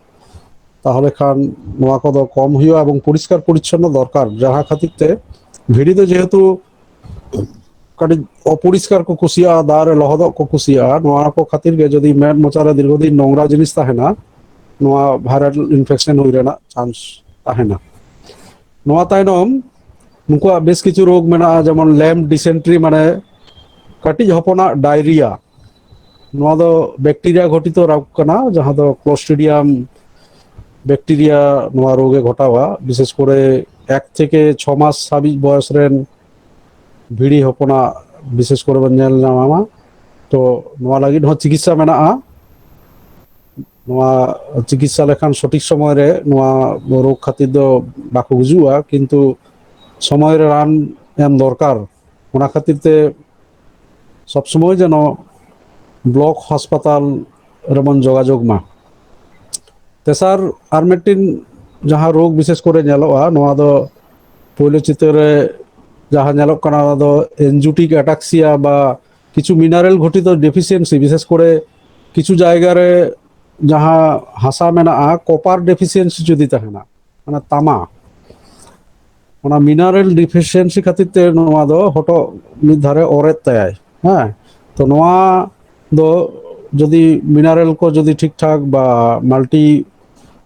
ᱛᱟᱦᱚᱞᱮ ᱠᱷᱟᱱ ᱱᱚᱣᱟ ᱠᱚᱫᱚ ᱠᱚᱢ ᱦᱩᱭᱩᱜᱼᱟ ᱮᱵᱚᱝ ᱯᱚᱨᱤᱥᱠᱟᱨ ᱯᱚᱨᱤᱪᱷᱚᱱᱱᱚ ᱫᱚᱨᱠᱟᱨ ᱡᱟᱦᱟᱸ ᱠᱷᱟᱹᱛᱤᱨ ᱛᱮ ᱵᱷᱤᱲᱤ ᱫᱚ ᱡᱮᱦᱮᱛᱩ ᱠᱟᱹᱴᱤᱡ ᱚᱯᱚᱨᱤᱥᱠᱟᱨ ᱠᱚ ᱠᱩᱥᱤᱭᱟᱜᱼᱟ ᱫᱟᱜ ᱨᱮ ᱞᱚᱦᱚᱫᱚᱜ ᱠᱚ ᱠᱩᱥᱤᱭᱟᱜᱼᱟ ᱱᱚᱣᱟ ᱠᱚ ᱠᱷᱟᱹᱛᱤᱨ ᱜᱮ ᱡᱩᱫᱤ ᱢᱮᱫ ᱢᱚᱪᱟᱨᱮ ᱫᱤᱨᱜᱷᱚ ᱫᱤᱱ ᱱᱚᱝᱨᱟ ᱡᱤᱱᱤᱥ ᱛᱟᱦᱮᱱᱟ ᱱᱚᱣᱟ ᱵᱷᱟᱭᱨᱟᱞ ᱤᱱᱯᱷᱮᱠᱥᱮᱱ ᱦᱩᱭ ᱨᱮᱱᱟᱜ ᱪᱟᱱᱥ ᱛᱟᱦᱮᱱᱟ ᱱᱚᱣᱟ ᱛᱟᱭᱱᱚᱢ ᱱᱩᱠᱩᱣᱟᱜ ᱵᱮᱥ ᱠᱤᱪᱷᱩ ᱨᱳᱜᱽ ᱢᱮᱱᱟᱜᱼᱟ ᱡᱮᱢᱚᱱ ᱞᱮᱢ ᱰᱤᱥᱮᱱᱴᱨᱤ ᱢᱟᱱᱮ ᱠᱟᱹᱴᱤᱡ ᱦᱚᱯᱚᱱᱟᱜ ᱰᱟᱭᱨᱤᱭᱟ ᱱᱚᱣᱟ ᱫᱚ ᱵᱮᱠᱴᱮᱨᱤᱭᱟ ᱜᱷᱚᱴᱤᱛᱚ ᱨᱳᱜᱽ ᱠᱟᱱᱟ ᱡᱟᱦᱟᱸ ᱫᱚ ᱠᱞᱳᱥᱴᱤᱰᱤᱭᱟᱢ ᱵᱮᱠᱴᱮᱨᱤᱭᱟ ᱱᱚᱣᱟ ᱨᱳᱜᱽ ᱮ ᱜᱷᱚᱴᱟᱣᱟ ᱵᱤᱥᱮᱥ ᱠᱚᱨᱮ ᱮᱠ ᱛᱷᱮᱠᱮ ᱪᱷᱚ ᱢᱟᱥ ᱦᱟᱹᱵᱤᱡ ᱵᱚᱭᱚᱥ ᱨᱮᱱ ᱵᱷᱤᱲᱤ ᱦᱚᱯᱚᱱᱟᱜ ᱵᱤᱥᱮᱥ ᱠᱚᱨᱮ ᱵᱚᱱ ᱧᱮᱞ ᱧᱟᱢᱟ ᱛᱚ ᱱᱚᱣᱟ ᱞᱟᱹᱜᱤᱫ ᱦᱚᱸ ᱪᱤᱠᱤᱛᱥᱟ ᱢᱮᱱᱟᱜᱼᱟ ᱱᱚᱣᱟ ᱪᱤᱠᱤᱛᱥᱟ ᱞᱮᱠᱷᱟᱱ ᱥᱚᱴᱷᱤᱠ ᱥᱚᱢᱚᱭ ᱨᱮ ᱱᱚᱣᱟ ᱨᱳᱜᱽ ᱠᱷᱟᱹᱛᱤᱨ ᱫᱚ ᱵᱟᱠᱚ ᱜᱩᱡᱩᱜᱼᱟ ᱠᱤᱱᱛᱩ ᱥᱚᱢᱚᱭ ᱨᱮ ᱨᱟᱱ ᱮᱢ ᱫᱚᱨᱠᱟᱨ ᱚᱱᱟ ᱠᱷᱟᱹᱛᱤᱨ ᱛᱮ ᱥᱚᱵᱽ ᱥᱚᱢᱚᱭ ᱡᱮᱱᱚ ᱵᱞᱚᱠ ᱦᱟᱥᱯᱟᱛᱟᱞ ᱨᱮᱵᱚᱱ ᱡᱳᱜᱟᱡᱳᱜᱽ ᱢᱟ ᱛᱮᱥᱟᱨ ᱟᱨ ᱢᱤᱫᱴᱤᱱ ᱡᱟᱦᱟᱸ ᱨᱳᱜᱽ ᱵᱤᱥᱮᱥ ᱠᱚᱨᱮ ᱧᱮᱞᱚᱜᱼᱟ ᱱᱚᱣᱟ ᱫᱚ ᱯᱳᱭᱞᱳ ᱪᱤᱛᱟᱹᱨ ᱨᱮ ᱡᱟᱦᱟᱸ ᱧᱮᱞᱚᱜ ᱠᱟᱱᱟ ᱚᱱᱟ ᱫᱚ ᱮᱱᱡᱩᱴᱤᱠ ᱟᱴᱟᱠᱥᱤᱭᱟ ᱵᱟ ᱠᱤᱪᱷᱩ ᱢᱤᱱᱟᱨᱮᱞ ᱜᱷᱚᱴᱤᱛ ᱰᱮᱯᱷᱤᱥᱤᱭᱮᱱᱥᱤ ᱵᱤᱥᱮᱥ ᱠᱚᱨᱮ ᱠᱤᱪᱷᱩ ᱡᱟᱭᱜᱟ ᱨᱮ ᱡᱟᱦᱟᱸ ᱦᱟᱥᱟ ᱢᱮᱱᱟᱜᱼᱟ ᱠᱚᱯᱟᱨ ᱰᱮᱯᱷᱤᱥᱤᱭᱮᱱᱥᱤ ᱡᱩᱫᱤ ᱛᱟᱦᱮᱱᱟ ᱚᱱᱟ ᱛᱟᱢᱟ ᱚᱱᱟ ᱢᱤᱱᱟᱨᱮᱞ ᱰᱤᱯᱷᱤᱥᱤᱭᱮᱱᱥᱤ ᱠᱷᱟᱹᱛᱤᱨ ᱛᱮ ᱱᱚᱣᱟ ᱫᱚ ᱦᱚᱴᱚᱜ ᱢᱤᱫ ᱫᱷᱟᱨᱮ ᱚᱨᱮᱫ ᱛᱟᱭᱟᱭ ᱦᱮᱸ ᱛᱚ ᱱᱚᱣᱟ ᱫᱚ ᱡᱩᱫᱤ ᱢᱤᱱᱟᱨᱮᱞ ᱠᱚ ᱡᱩᱫᱤ ᱴᱷᱤᱠ ᱴᱷᱟᱠ ᱵᱟ ᱢᱟᱞᱴᱤ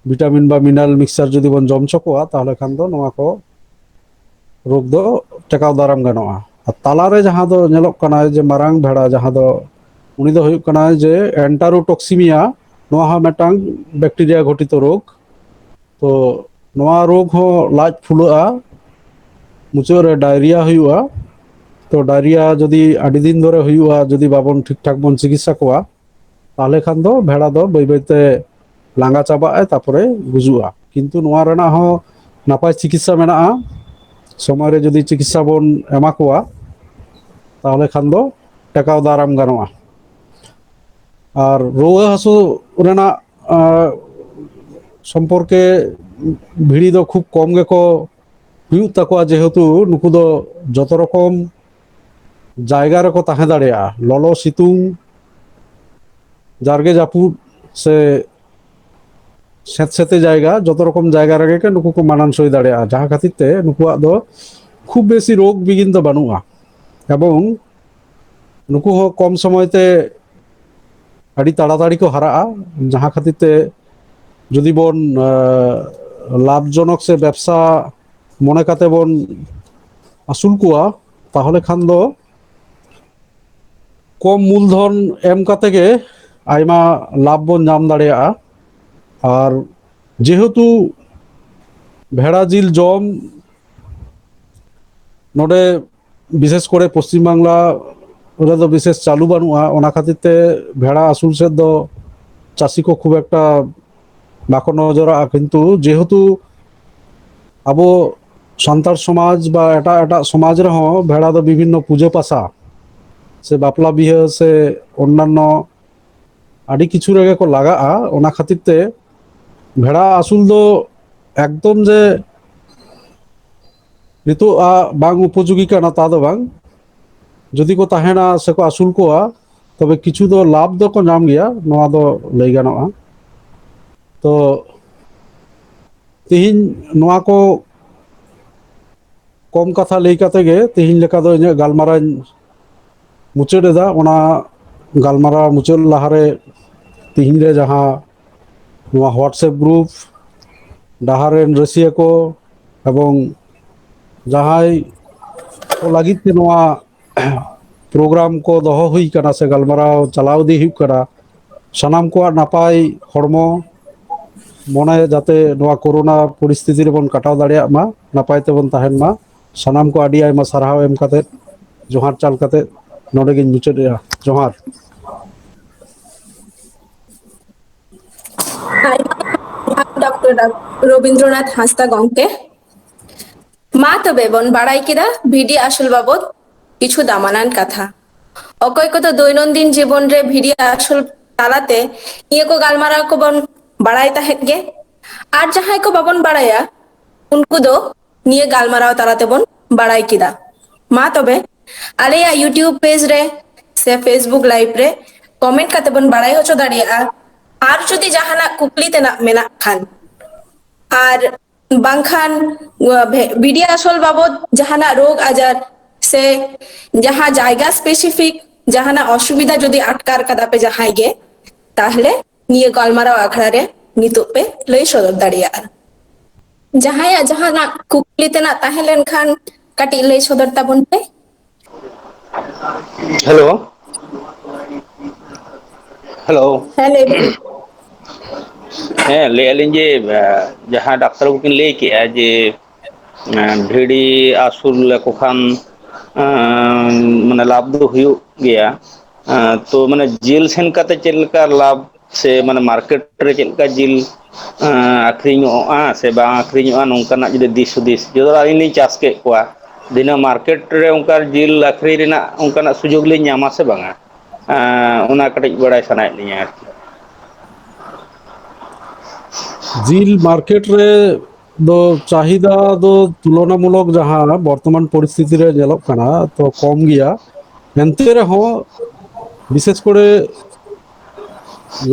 ᱵᱷᱤᱴᱟᱢᱤᱱ ᱵᱟ ᱢᱤᱱᱟᱨᱮᱞ ᱢᱤᱠᱥᱪᱟᱨ ᱡᱩᱫᱤ ᱵᱚᱱ ᱡᱚᱢ ᱦᱚᱪᱚ ᱠᱚᱣᱟ ᱛᱟᱦᱚᱞᱮ ᱠᱷᱟᱱ ᱫᱚ ᱱᱚᱣᱟ ᱠᱚ ᱨᱳᱜᱽ ᱫᱚ ᱴᱮᱠᱟᱣ ᱫᱟᱨᱟᱢ ᱜᱟᱱᱚᱜᱼᱟ ᱟᱨ ᱛᱟᱞᱟᱨᱮ ᱡᱟᱦᱟᱸ ᱫᱚ ᱧᱮᱞᱚᱜ ᱠᱟᱱᱟ ᱡᱮ ᱢᱟᱨᱟᱝ ᱵᱷᱮᱲᱟ ᱡᱟᱦᱟᱸ ᱫᱚ ᱩᱱᱤ ᱫᱚ ᱦᱩᱭᱩᱜ ᱠᱟᱱᱟ ᱡᱮ ᱮᱱᱴᱟᱨᱳᱴᱚᱠᱥᱤᱢᱤᱭᱟ ᱱᱚᱣᱟ ᱦᱚᱸ ᱢᱤᱫᱴᱟᱝ ᱵᱮᱠᱴᱮᱨᱤᱭᱟ ᱜᱷᱚᱴᱤᱛᱚ ᱨᱳᱜᱽ ᱛᱚ ᱱᱚᱣᱟ ᱨᱳᱜᱽ ᱦᱚᱸ ᱞᱟᱡ ᱯᱷᱩᱞᱟᱹᱜᱼᱟ ᱢᱩᱪᱟᱹᱫ ᱨᱮ ᱰᱟᱭᱨᱤᱭᱟ ᱦᱩᱭᱩᱜᱼᱟ ᱛᱚ ᱰᱟᱭᱨᱤᱭᱟ ᱡᱩᱫᱤ ᱟᱹᱰᱤ ᱫᱤᱱ ᱫᱷᱚᱨᱮ ᱦᱩᱭᱩᱜᱼᱟ ᱡᱩᱫᱤ ᱵᱟᱵᱚᱱ ᱴᱷᱤᱠ ᱴᱷᱟᱠ ᱵᱚᱱ ᱪᱤᱠᱤᱛᱥᱟ ᱠᱚᱣᱟ ᱛᱟᱦᱚᱞᱮ ᱠᱷᱟᱱ ᱫᱚ ᱵᱷᱮᱲᱟ ᱫᱚ ᱵᱟᱹᱭ ᱵᱟᱹᱭᱛᱮ ᱞᱟᱸᱜᱟ ᱪᱟᱵᱟᱜ ᱟᱭ ᱛᱟᱨᱯᱚᱨᱮ ᱜᱩᱡᱩᱜᱼᱟ ᱠᱤᱱᱛᱩ ᱱᱚᱣᱟ ᱨᱮᱱᱟᱜ ᱦᱚᱸ ᱱᱟᱯᱟᱭ ᱪᱤᱠᱤᱛᱥᱟ ᱢᱮᱱᱟᱜᱼᱟ ᱥᱚᱢᱚᱭ ᱨᱮ ᱡᱩᱫᱤ ᱪᱤᱠᱤᱛᱥᱟ ᱵᱚᱱ ᱮᱢᱟ ᱠᱚᱣᱟ ᱛᱟᱦᱚᱞᱮ ᱠᱷᱟᱱ ᱫᱚ ᱴᱮᱠᱟᱣ ᱫᱟᱨᱟᱢ ᱜᱟᱱᱚᱜᱼᱟ ᱟᱨ ᱨᱩᱣᱟᱹ ᱦᱟᱹᱥᱩ ᱨᱮᱱᱟᱜ ᱥᱚᱢᱯᱚᱨᱠᱮ ᱵᱷᱤᱲᱤ ᱫᱚ ᱠᱷᱩᱵ ᱠᱚᱢ ᱜᱮᱠᱚ ᱦᱩᱭᱩᱜ ᱛᱟᱠᱚᱣᱟ ᱡᱮᱦᱮᱛᱩ ᱱᱩᱠᱩ ᱫᱚ ᱡᱚᱛᱚ ᱨᱚᱠᱚᱢ ᱡᱟᱭᱜᱟ ᱨᱮᱠᱚ ᱛᱟᱦᱮᱸ ᱫᱟᱲᱮᱭᱟᱜᱼᱟ ᱞᱚᱞᱚ ᱥᱤᱛᱩᱝ ᱡᱟᱨᱜᱮ ᱡᱟᱹᱯᱩᱫ ᱥᱮ ᱥᱮᱸᱛ ᱥᱮᱸᱛᱮ ᱡᱟᱭᱜᱟ ᱡᱚᱛᱚ ᱨᱚᱠᱚᱢ ᱡᱟᱭᱜᱟ ᱨᱮᱜᱮ ᱠᱚ ᱱᱩᱠᱩ ᱠᱚ ᱢᱟᱱᱟᱱ ᱥᱳᱭ ᱫᱟᱲᱮᱭᱟᱜᱼᱟ ᱡᱟᱦᱟᱸ ᱠᱷᱟᱹᱛᱤᱨ ᱛᱮ ᱱᱩᱠᱩᱣᱟᱜ ᱫᱚ ᱠᱷᱩᱵ ᱵᱮᱥᱤ ᱨᱳᱜᱽ ᱵᱤᱜᱷᱤᱱ ᱫᱚ ᱵᱟᱹᱱᱩᱜᱼᱟ ᱮᱵᱚᱝ ᱱᱩᱠᱩ ᱦᱚᱸ ᱠᱚᱢ ᱥᱚᱢᱚᱭ ᱛᱮ ᱟᱹᱰᱤ ᱛᱟᱲᱟᱛᱟᱲᱤ ᱠᱚ ᱦᱟᱨᱟᱜᱼᱟ ᱡᱟᱦᱟᱸ ᱠᱷᱟᱹᱛᱤᱨ ᱛᱮ ᱡᱩᱫᱤ ᱵᱚᱱ ᱞᱟᱵᱷ ᱡᱚᱱᱚᱠ ᱥᱮ ᱵᱮᱵᱽᱥᱟ ᱢᱚᱱᱮ ᱠᱟᱛᱮ ᱵᱚᱱ ᱟᱹᱥᱩᱞ ᱠᱚᱣᱟ ᱛᱟᱦᱚᱞᱮ ᱠᱷᱟᱱ ᱫᱚ ᱠᱚᱢ ᱢᱩᱞᱫᱷᱚᱱ ᱮᱢ ᱠᱟᱛᱮ ᱜᱮ ᱟᱭᱢᱟ ᱞᱟᱵᱷ ᱵᱚᱱ ᱧᱟᱢ ᱫᱟᱲᱮᱭᱟᱜᱼᱟ ᱟᱨ ᱡᱮᱦᱮᱛᱩ ᱵᱷᱮᱲᱟ ᱡᱤᱞ ᱡᱚᱢ ᱱᱚᱰᱮ ᱵᱤᱥᱮᱥ ᱠᱚᱨᱮ ᱯᱚᱥᱪᱤᱢ ᱵᱟᱝᱞᱟ ᱨᱮᱫᱚ ᱵᱤᱥᱮᱥ ᱪᱟᱹᱞᱩ ᱵᱟᱹᱱᱩᱜᱼᱟ ᱚᱱᱟ ᱠᱷᱟᱹᱛᱤᱨ ᱛᱮ ᱵᱷᱮᱲᱟ ᱟᱹᱥᱩᱞ ᱥᱮᱫ ᱫᱚ ᱪᱟᱹᱥᱤ ᱠᱚ ᱠᱷᱩᱵ ᱮᱠᱴᱟ ᱵᱟᱠᱚ ᱱᱚᱡᱚᱨᱟᱜᱼᱟ ᱠᱤᱱᱛᱩ ᱡᱮᱦᱮᱛᱩ ᱟᱵᱚ ᱥᱟᱱᱛᱟᱲ ᱥᱚᱢᱟᱡᱽ ᱵᱟ ᱮᱴᱟᱜ ᱮᱴᱟᱜ ᱥᱚᱢᱟᱡᱽ ᱨᱮᱦᱚᱸ ᱵᱷᱮᱲᱟ ᱫᱚ ᱵᱤᱵᱷᱤᱱᱱᱚ ᱯᱩᱡᱟᱹ ᱯᱟᱥᱟ ᱥᱮ ᱵᱟᱯᱞᱟ ᱵᱤᱦᱟᱹ ᱥᱮ ᱚᱱᱱᱟᱱᱱᱚ ᱟᱹᱰᱤ ᱠᱤᱪᱷᱩ ᱨᱮᱜᱮ ᱠᱚ ᱞᱟᱜᱟᱜᱼᱟ ᱚᱱᱟ ᱠᱷᱟᱹᱛᱤᱨ ᱛᱮ ᱵᱷᱮᱲᱟ ᱟᱹᱥᱩᱞ ᱫᱚ ᱮᱠᱫᱚᱢ ᱡᱮ ᱱᱤᱛᱚᱜ ᱟᱜ ᱵᱟᱝ ᱩᱯᱚᱡᱳᱜᱤ ᱠᱟᱱᱟ ᱛᱟ ᱫᱚ ᱵᱟᱝ ᱡᱩᱫᱤ ᱠᱚ ᱛᱟᱦᱮᱱᱟ ᱥᱮᱠᱚ ᱟᱹᱥᱩᱞ ᱠᱚᱣᱟ ᱛᱚᱵᱮ ᱠᱤᱪᱷᱩ ᱫᱚ ᱞᱟᱵᱷ ᱫᱚᱠᱚ ᱧᱟᱢ ᱜᱮᱭᱟ ᱱᱚᱣᱟ ᱫᱚ ᱞᱟᱹᱭ ᱜᱟᱱᱚᱜᱼᱟ ᱛᱚ ᱛᱮᱦᱮᱧ ᱱᱚᱣᱟ ᱠᱚ ᱠᱚᱢ ᱠᱟᱛᱷᱟ ᱞᱟᱹᱭ ᱠᱟᱛᱮ ᱜᱮ ᱛᱮᱦᱮᱧ ᱞᱮᱠᱟ ᱫᱚ ᱤᱧᱟᱹᱜ ᱜᱟᱞᱢᱟᱨᱟᱣ ᱤᱧ ᱢᱩᱪᱟᱹᱫ ᱮᱫᱟ ᱚᱱᱟ ᱜᱟᱞᱢᱟᱨᱟᱣ ᱢᱩᱪᱟᱹᱫ ᱞᱟᱦᱟᱨᱮ ᱛᱮᱦᱮᱧ ᱨᱮ ᱡᱟᱦᱟᱸ ᱱᱚᱣᱟ ᱦᱳᱣᱟᱴᱥᱮᱯ ᱜᱨᱩᱯ ᱰᱟᱦᱟᱨ ᱨᱮᱱ ᱨᱟᱹᱥᱤᱭᱟᱹ ᱠᱚ ᱮᱵᱚᱝ ᱡᱟᱦᱟᱸᱭ ᱠᱚ ᱞᱟᱹᱜᱤᱫ ᱛᱮ ᱱᱚᱣᱟ ᱯᱨᱳᱜᱨᱟᱢ ᱠᱚ ᱫᱚᱦᱚ ᱦᱩᱭ ᱠᱟᱱᱟ ᱥᱮ ᱜᱟᱞᱢᱟᱨᱟᱣ ᱪᱟᱞᱟᱣ ᱤᱫᱤ ᱦᱩᱭᱩᱜ ᱠᱟᱱᱟ ᱥᱟᱱᱟᱢ ᱠᱚᱣᱟᱜ ᱱᱟᱯᱟᱭ ᱦᱚᱲᱢᱚ ᱢᱚᱱᱮ ᱡᱟᱛᱮ ᱱᱚᱣᱟ ᱠᱳᱨᱳᱱᱟ ᱯᱚᱨᱤᱥᱛᱷᱤᱛᱤ ᱨᱮᱵᱚᱱ ᱠᱟᱴᱟᱣ ᱫᱟᱲᱮᱭᱟᱜ ᱢᱟ ᱱᱟᱯᱟᱭ ᱛᱮᱵᱚᱱ ᱛᱟᱦᱮᱱ ᱢᱟ ᱥᱟᱱᱟᱢ ᱠᱚ ᱟᱹᱰᱤ ᱟᱭᱢᱟ ᱥᱟᱨᱦᱟᱣ ᱮᱢ ᱠᱟᱛᱮᱫ ᱡᱚᱦᱟᱨ ᱪᱟᱞ ᱠᱟᱛᱮᱫ ᱱᱚᱰᱮ ᱜᱤᱧ ᱢᱩᱪᱟᱹᱫ ᱮᱜᱼᱟ ᱡᱚᱦᱟᱨ ᱰᱚᱠᱴᱚᱨ ᱨᱚᱵᱤᱱᱫᱨᱚᱱᱟᱛᱷ ᱦᱟᱸᱥᱫᱟ ᱜᱚᱢᱠᱮ ᱢᱟ ᱛᱚᱵᱮ ᱵᱚᱱ ᱵᱟᱲᱟᱭ ᱠᱮᱫᱟ ᱵᱷᱤᱰᱤ ᱟᱹᱥᱩᱞ ᱵᱟᱵᱚᱫ ᱠᱤᱪᱷᱩ ᱫᱟᱢᱟᱱᱟᱱ ᱠᱟᱛᱷᱟ ᱚᱠᱚᱭ ᱠᱚᱫᱚ ᱫᱳᱭᱱᱚᱱᱫᱤᱱ ᱡᱤᱵᱚᱱ ᱨᱮ ᱵᱷᱤᱰᱤ ᱟᱹᱥᱩᱞ ᱛᱟᱞᱟᱛᱮ ᱱᱤᱭᱟᱹ ᱠᱚ ᱜᱟᱞᱢᱟᱨᱟᱣ ᱠᱚᱵᱚᱱ ᱵᱟᱲᱟᱭ ᱛᱟᱦᱮᱸᱫ ᱜᱮ ᱟᱨ ᱡᱟᱦᱟᱸᱭ ᱠᱚ ᱵᱟᱵᱚᱱ ᱵᱟᱲᱟᱭᱟ ᱩᱱᱠᱩ ᱫᱚ ᱱᱤᱭᱟᱹ ᱜᱟᱞᱢᱟᱨᱟᱣ ᱛᱟᱞᱟ ᱛᱮᱵᱚᱱ ᱵᱟᱲᱟᱭ ᱠᱮᱫᱟ ᱢᱟ ᱛᱚᱵᱮ ᱟᱞᱮᱭᱟᱜ ᱤᱭᱩᱴᱤᱭᱩᱵᱽ ᱯᱮᱡᱽ ᱨᱮ ᱥᱮ ᱯᱷᱮᱥᱵᱩᱠ ᱞᱟᱭᱤᱵᱷ ᱨᱮ ᱠᱚᱢᱮᱱᱴ ᱠᱟᱛᱮ ᱵᱚᱱ ᱵᱟᱲᱟᱭ ᱦᱚᱪᱚ ᱫᱟᱲᱮᱭᱟᱜᱼᱟ ᱟᱨ ᱡᱩᱫᱤ ᱡᱟᱦᱟᱱᱟᱜ ᱠᱩᱠᱞᱤ ᱛᱮᱱᱟᱜ ᱢᱮᱱᱟᱜ ᱠᱷᱟᱱ ᱟᱨ ᱵᱟᱝᱠᱷᱟᱱ ᱵᱤᱰᱤ ᱟᱥᱚᱞ ᱵᱟᱵᱚᱫ ᱡᱟᱦᱟᱱᱟᱜ ᱨᱳᱜᱽ ᱟᱡᱟᱨ ᱥᱮ ᱡᱟᱦᱟᱸ ᱡᱟᱭᱜᱟ ᱥᱯᱮᱥᱤᱯᱷᱤᱠ ᱡᱟᱦᱟᱱᱟᱜ ᱚᱥᱩᱵᱤᱫᱷᱟ ᱡᱩᱫᱤ ᱟᱴᱠᱟᱨ ᱠᱟᱫᱟ ᱯᱮ ᱡᱟᱦᱟᱸᱭ ᱜᱮ ᱛᱟᱦᱞᱮ ᱱᱤᱭᱟᱹ ᱜᱟᱞᱢᱟᱨᱟᱣ ᱟᱠᱷᱲᱟ ᱨᱮ ᱱᱤᱛᱚᱜ ᱯᱮ ᱞᱟᱹᱭ ᱥᱚᱫᱚᱨ ᱫᱟᱲᱮᱭᱟᱜᱼᱟ ᱡᱟᱦᱟᱸᱭᱟᱜ ᱡᱟᱦᱟᱱᱟᱜ ᱠᱩᱠᱞᱤ ᱛᱮᱱᱟᱜ ᱛᱟᱦᱮᱸ ᱞᱮᱱ ᱠᱷᱟᱱ ᱠᱟᱹᱴᱤᱡ ᱞᱟᱹᱭ ᱥᱚᱫᱚᱨ ᱛᱟᱵᱚᱱ ᱯᱮ ᱦᱮᱞᱳ ᱦᱮᱞᱳ ᱦᱮᱸ ᱞᱟᱹᱭ ᱵᱤᱱ ᱦᱮᱸ ᱞᱟᱹᱭᱮᱫᱼᱟ ᱞᱤᱧ ᱡᱮ ᱡᱟᱦᱟᱸ ᱰᱟᱠᱛᱟᱨ ᱵᱟᱵᱩ ᱠᱤᱱ ᱞᱟᱹᱭ ᱠᱮᱫᱼᱟ ᱡᱮ ᱮᱸ ᱵᱷᱤᱲᱤ ᱟᱹᱥᱩᱞ ᱞᱮᱠᱚ ᱠᱷᱟᱱ ᱮᱸ ᱢᱟᱱᱮ ᱞᱟᱵᱷ ᱫᱚ ᱦᱩᱭᱩᱜ ᱜᱮᱭᱟ᱾ ᱮᱸ ᱛᱚ ᱢᱟᱱᱮ ᱡᱮᱞ ᱥᱮᱱ ᱠᱟᱛᱮᱫ ᱪᱮᱫ ᱞᱮᱠᱟ ᱞᱟᱵᱷ ᱥᱮ ᱢᱟᱱᱮ ᱢᱟᱨᱠᱮᱴ ᱨᱮ ᱪᱮᱫ ᱞᱮᱠᱟ ᱡᱤᱞ ᱮᱸ ᱟᱠᱷᱨᱤᱧᱚᱜᱼᱟ ᱥᱮ ᱵᱟᱝ ᱟᱠᱷᱨᱤᱧᱚᱜᱼᱟ ᱱᱚᱝᱠᱟᱱᱟᱜ ᱡᱩᱫᱤ ᱫᱤᱥ ᱦᱩᱫᱤᱥ ᱡᱚᱛᱚ ᱟᱹᱞᱤᱧ ᱞᱤᱧ ᱪᱟᱥ ᱠᱮᱫ ᱠᱚᱣᱟ ᱵᱷᱤᱱᱟᱹ ᱢᱟᱨᱠᱮᱴ ᱨᱮ ᱚᱱᱠᱟ ᱡᱤᱞ ᱟᱹᱠᱷᱨᱤᱧ ᱨᱮᱱᱟᱜ ᱚᱱᱠᱟᱱᱟᱜ ᱥᱩᱡᱳᱜᱽ ᱞᱤᱧ ᱧᱟᱢᱟ ᱥᱮ ᱵᱟᱝᱟ? ᱮᱸ ᱚᱱᱟ ᱠᱟᱹᱴᱤᱡ ᱵᱟᱲᱟᱭ ᱥᱟᱱᱟᱭᱮᱫ ᱞᱤᱧᱟᱹ ᱟᱨᱠᱤ᱾ ᱡᱤᱞ ᱢᱟᱨᱠᱮᱴ ᱨᱮ ᱫᱚ ᱪᱟᱦᱤᱫᱟ ᱫᱚ ᱛᱩᱞᱚᱱᱟᱢᱩᱞᱚᱠ ᱡᱟᱦᱟᱸ ᱵᱚᱨᱛᱚᱢᱟᱱ ᱯᱚᱨᱤᱥᱛᱷᱤᱛᱤ ᱨᱮ ᱧᱮᱞᱚᱜ ᱠᱟᱱᱟ ᱛᱚ ᱠᱚᱢ ᱜᱮᱭᱟ ᱮᱱᱛᱮ ᱨᱮᱦᱚᱸ ᱵᱤᱥᱮᱥ ᱠᱚᱨᱮ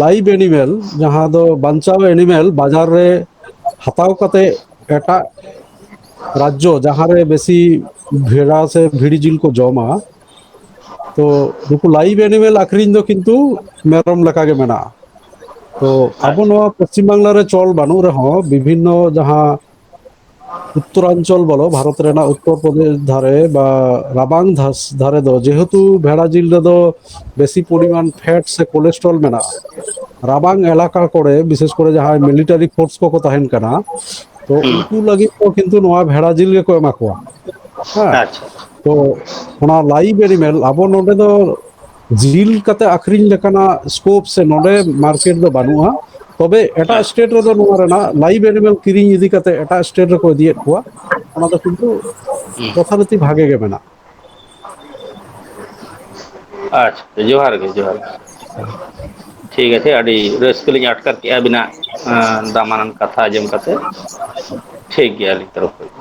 ᱞᱟᱭᱤᱵᱷ ᱮᱱᱤᱢᱮᱞ ᱡᱟᱦᱟᱸ ᱫᱚ ᱵᱟᱧᱪᱟᱣ ᱮᱱᱤᱢᱮᱞ ᱵᱟᱡᱟᱨ ᱨᱮ ᱦᱟᱛᱟᱣ ᱠᱟᱛᱮᱫ ᱮᱴᱟᱜ ᱨᱟᱡᱽᱡᱚ ᱡᱟᱦᱟᱸᱨᱮ ᱵᱮᱥᱤ ᱵᱷᱮᱲᱟ ᱥᱮ ᱵᱷᱤᱲᱤ ᱡᱤᱞ ᱠᱚ ᱡᱚᱢᱟ ᱛᱚ ᱱᱩᱠᱩ ᱞᱟᱭᱤᱵ ᱮᱱᱤᱢᱮᱞ ᱟᱠᱷᱨᱤᱧ ᱫᱚ ᱠᱤᱱᱛᱩ ᱢᱮᱨᱚᱢ ᱞᱮᱠᱟ ᱜᱮ ᱢᱮᱱᱟᱜᱼᱟ᱾ ᱛᱚ ᱟᱵᱚ ᱟᱪᱪᱷᱟ ᱱᱚᱣᱟ ᱯᱚᱥᱪᱤᱢ ᱵᱟᱝᱞᱟ ᱨᱮ ᱪᱚᱞ ᱵᱟᱹᱱᱩᱜ ᱨᱮᱦᱚᱸ ᱵᱤᱵᱷᱤᱱᱱᱚ ᱡᱟᱦᱟᱸ ᱩᱛᱛᱚᱨᱟᱧᱪᱚᱞ ᱵᱚᱞᱚ ᱵᱷᱟᱨᱚᱛ ᱨᱮᱱᱟᱜ ᱩᱛᱛᱚᱨ ᱯᱨᱚᱫᱮᱥ ᱫᱷᱟᱨᱮ ᱵᱟ ᱨᱟᱵᱟᱝ ᱫᱷᱟᱥ ᱫᱷᱟᱨᱮ ᱫᱚ ᱡᱮᱦᱮᱛᱩ ᱵᱷᱮᱲᱟ ᱡᱤᱞ ᱨᱮᱫᱚ ᱵᱮᱥᱤ ᱯᱚᱨᱤᱢᱟᱱ ᱯᱷᱮᱴ ᱥᱮ ᱠᱳᱞᱮᱥᱴᱨᱚᱞ ᱢᱮᱱᱟᱜᱼᱟ᱾ ᱨᱟᱵᱟᱝ ᱮᱞᱟᱠᱟ ᱠᱚᱨᱮ ᱵᱤᱥᱮᱥ ᱠᱚᱨᱮ ᱡᱟᱦᱟᱸᱭ ᱢᱤᱞᱤᱴᱟᱨᱤ ᱯᱷᱳᱨᱥ ᱠᱚᱠᱚ ᱛᱟᱦᱮᱱ ᱠᱟᱱᱟ ᱛᱚ ᱦᱩᱸ ᱩᱱᱠᱩ ᱞᱟᱹᱜᱤᱫ ᱫᱚ ᱠᱤᱱᱛᱩ ᱱᱚᱣᱟ ᱵᱷᱮᱲᱟ ᱡᱤᱞ ᱜᱮᱠᱚ ᱮᱢᱟ ᱠᱚᱣᱟ ᱦᱮᱸ᱾ ᱟᱪᱪᱷᱟ ᱛᱚ ᱚᱱᱟ ᱞᱟᱭᱤᱵ ᱮᱱᱤᱢᱮᱞ ᱟᱵᱚ ᱱᱚᱰᱮ ᱫᱚ ᱡᱤᱞ ᱠᱟᱛᱮ ᱟᱠᱷᱨᱤᱧ ᱞᱮᱠᱟᱱᱟᱜ ᱥᱠᱳᱯ ᱥᱮ ᱱᱚᱰᱮ ᱢᱟᱨᱠᱮᱴ ᱫᱚ ᱵᱟᱹᱱᱩᱜᱼᱟ ᱛᱚᱵᱮ ᱮᱴᱟᱜ ᱟᱪᱪᱷᱟ ᱥᱴᱮᱴ ᱨᱮᱫᱚ ᱱᱚᱣᱟ ᱨᱮᱱᱟᱜ ᱞᱟᱭᱤᱵ ᱮᱱᱤᱢᱮᱞ ᱠᱤᱨᱤᱧ ᱤᱫᱤ ᱠᱟᱛᱮ ᱮᱴᱟᱜ ᱥᱴᱮᱴ ᱨᱮᱠᱚ ᱤᱫᱤᱭᱮᱫ ᱠᱚᱣᱟ ᱚᱱᱟ ᱫᱚ ᱠᱤᱱᱛᱩ ᱦᱩᱸ ᱡᱚᱛᱷᱟᱨᱤᱛᱤ ᱵᱷᱟᱜᱮ ᱜᱮ ᱢᱮᱱᱟᱜᱼᱟ ᱟᱪᱪᱷᱟ ᱡᱚᱦᱟᱨ ᱜᱮ ᱡᱚᱦᱟᱨ ᱜᱮ ᱴᱷᱤᱠ ᱟᱪᱷᱮ ᱟᱹᱰᱤ ᱨᱟᱹᱥᱠᱟᱹ ᱞᱤᱧ ᱟᱴᱠᱟᱨ ᱠᱮᱫᱼᱟ ᱟᱹᱵᱤᱱᱟᱜ ᱫᱟᱢᱟᱱᱟᱱ ᱠᱟᱛᱷᱟ ᱟᱸᱡᱚᱢ ᱠᱟᱛᱮ ᱴᱷᱤᱠ ᱜᱮᱭᱟ ᱟᱞᱤᱧ ᱛᱚᱨᱚᱯ ᱠᱷᱚᱡ ᱫᱚ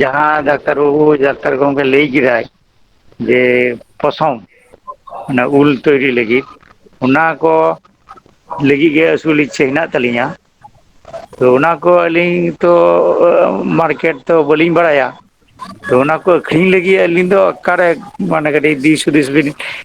ᱡᱟᱦᱟᱸ ᱰᱟᱠᱛᱟᱨ ᱵᱟᱹᱵᱩ ᱰᱟᱠᱛᱟᱨ ᱜᱚᱝᱠᱮ ᱞᱟᱹᱭ ᱠᱮᱫᱟᱭ ᱡᱮ ᱯᱚᱥᱚᱢ ᱚᱱᱟ ᱩᱞ ᱛᱚᱭᱨᱤ ᱞᱟᱹᱜᱤᱫ ᱚᱱᱟ ᱠᱚ ᱞᱟᱹᱜᱤᱫ ᱜᱮ ᱟᱹᱥᱩᱞ ᱤᱪᱪᱷᱟᱹ ᱦᱮᱱᱟᱜ ᱛᱟᱹᱞᱤᱧᱟ ᱛᱚ ᱚᱱᱟ ᱠᱚ ᱟᱹᱞᱤᱧ ᱛᱚ ᱢᱟᱨᱠᱮᱴ ᱛᱚ ᱵᱟᱹᱞᱤᱧ ᱵᱟᱲᱟᱭᱟ ᱛᱚ ᱚᱱᱟ ᱠᱚ ᱟᱹᱠᱷᱨᱤᱧ ᱞᱟᱹᱜᱤᱫ ᱟᱹᱞᱤᱧ ᱫᱚ ᱚᱠᱟᱨᱮ ᱢᱟᱱᱮ ᱠᱟᱹᱴᱤᱡ ᱫᱤᱥ ᱦᱩᱫᱤᱥ ᱵᱤᱱ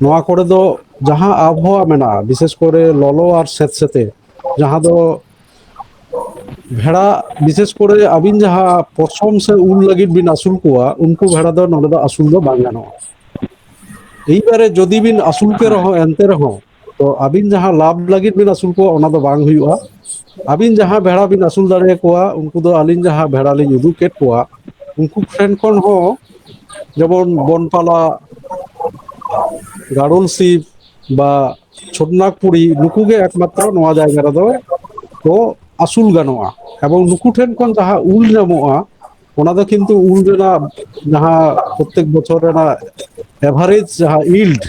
ᱱᱚᱣᱟ ᱠᱚᱨᱮ ᱫᱚ ᱡᱟᱦᱟᱸ ᱟᱵᱚᱦᱟᱣᱟ ᱢᱮᱱᱟᱜᱼᱟ ᱵᱤᱥᱮᱥ ᱠᱚᱨᱮ ᱞᱚᱞᱚ ᱟᱨ ᱥᱮᱸᱛ ᱥᱮᱸᱛᱮ ᱡᱟᱦᱟᱸ ᱫᱚ ᱵᱷᱮᱲᱟ ᱵᱤᱥᱮᱥ ᱠᱚᱨᱮ ᱟᱹᱵᱤᱱ ᱡᱟᱦᱟᱸ ᱯᱚᱥᱚᱢ ᱥᱮ ᱩᱞ ᱞᱟᱹᱜᱤᱫ ᱵᱤᱱ ᱟᱹᱥᱩᱞ ᱠᱚᱣᱟ ᱩᱱᱠᱩ ᱵᱷᱮᱲᱟ ᱫᱚ ᱱᱚᱰᱮ ᱫᱚ ᱟᱹᱥᱩᱞ ᱫᱚ ᱵᱟᱝ ᱜᱟᱱᱚᱜᱼᱟ ᱮᱵᱟᱨᱮ ᱡᱩᱫᱤ ᱵᱤᱱ ᱟᱹᱥᱩᱞ ᱠᱮ ᱦᱮᱸ ᱨᱮᱦᱚᱸ ᱮᱱᱛᱮ ᱨᱮᱦᱚᱸ ᱛᱚ ᱟᱹᱵᱤᱱ ᱡᱟᱦᱟᱸ ᱞᱟᱵᱷ ᱞᱟᱹᱜᱤᱫ ᱵᱤᱱ ᱟᱹᱥᱩᱞ ᱠᱚᱣᱟ ᱚᱱᱟ ᱫᱚ ᱵᱟᱝ ᱦᱩᱭᱩᱜᱼᱟ ᱟᱹᱵᱤᱱ ᱡᱟᱦᱟᱸ ᱵᱮᱲᱟ ᱵᱤᱱ ᱟᱹᱥᱩᱞ ᱫᱟᱲᱮᱭᱟᱠᱚᱣᱟ ᱩᱱᱠᱩ ᱫᱚ ᱟᱹᱞᱤᱧ ᱡᱟᱦᱟᱸ ᱵᱮᱲᱟ ᱞᱤᱧ ᱩᱫᱩᱜ ᱠᱮᱫ ᱠᱚᱣᱟ ᱩᱱᱠᱩ ᱴᱷᱮᱱ ᱠᱷᱚᱱ ᱦᱚᱸ ᱡᱮᱢᱚᱱ ᱵᱚᱱ ᱛᱟᱞᱟ ᱜᱟᱲᱚᱞ ᱥᱤᱢ ᱵᱟ ᱪᱷᱳᱚᱴᱱᱟᱜᱽ ᱯᱩᱨᱤ ᱱᱩᱠᱩ ᱜᱮ ᱮᱠᱢᱟᱛᱨᱚ ᱱᱚᱣᱟ ᱡᱟᱭᱜᱟ ᱨᱮᱫᱚ ᱠᱚ ᱟᱹᱥᱩᱞ ᱜᱟᱱᱚᱜᱼᱟ ᱮᱵᱚᱝ ᱱᱩᱠᱩ ᱴᱷᱮᱱ ᱠᱷᱚᱱ ᱡᱟᱦᱟᱸ ᱩᱞ ᱧᱟᱢᱚᱜᱼᱟ ᱚᱱᱟ ᱫᱚ ᱠᱤᱱᱛᱩ ᱩᱞ ᱨᱮᱱᱟᱜ ᱡᱟᱦᱟᱸ ᱯᱨᱚᱛᱮᱠ ᱵᱚᱪᱷᱚᱨ ᱨᱮᱱᱟᱜ ᱮᱵᱷᱟᱨᱮᱡᱽ ᱡᱟᱦᱟᱸ ᱤᱞᱰ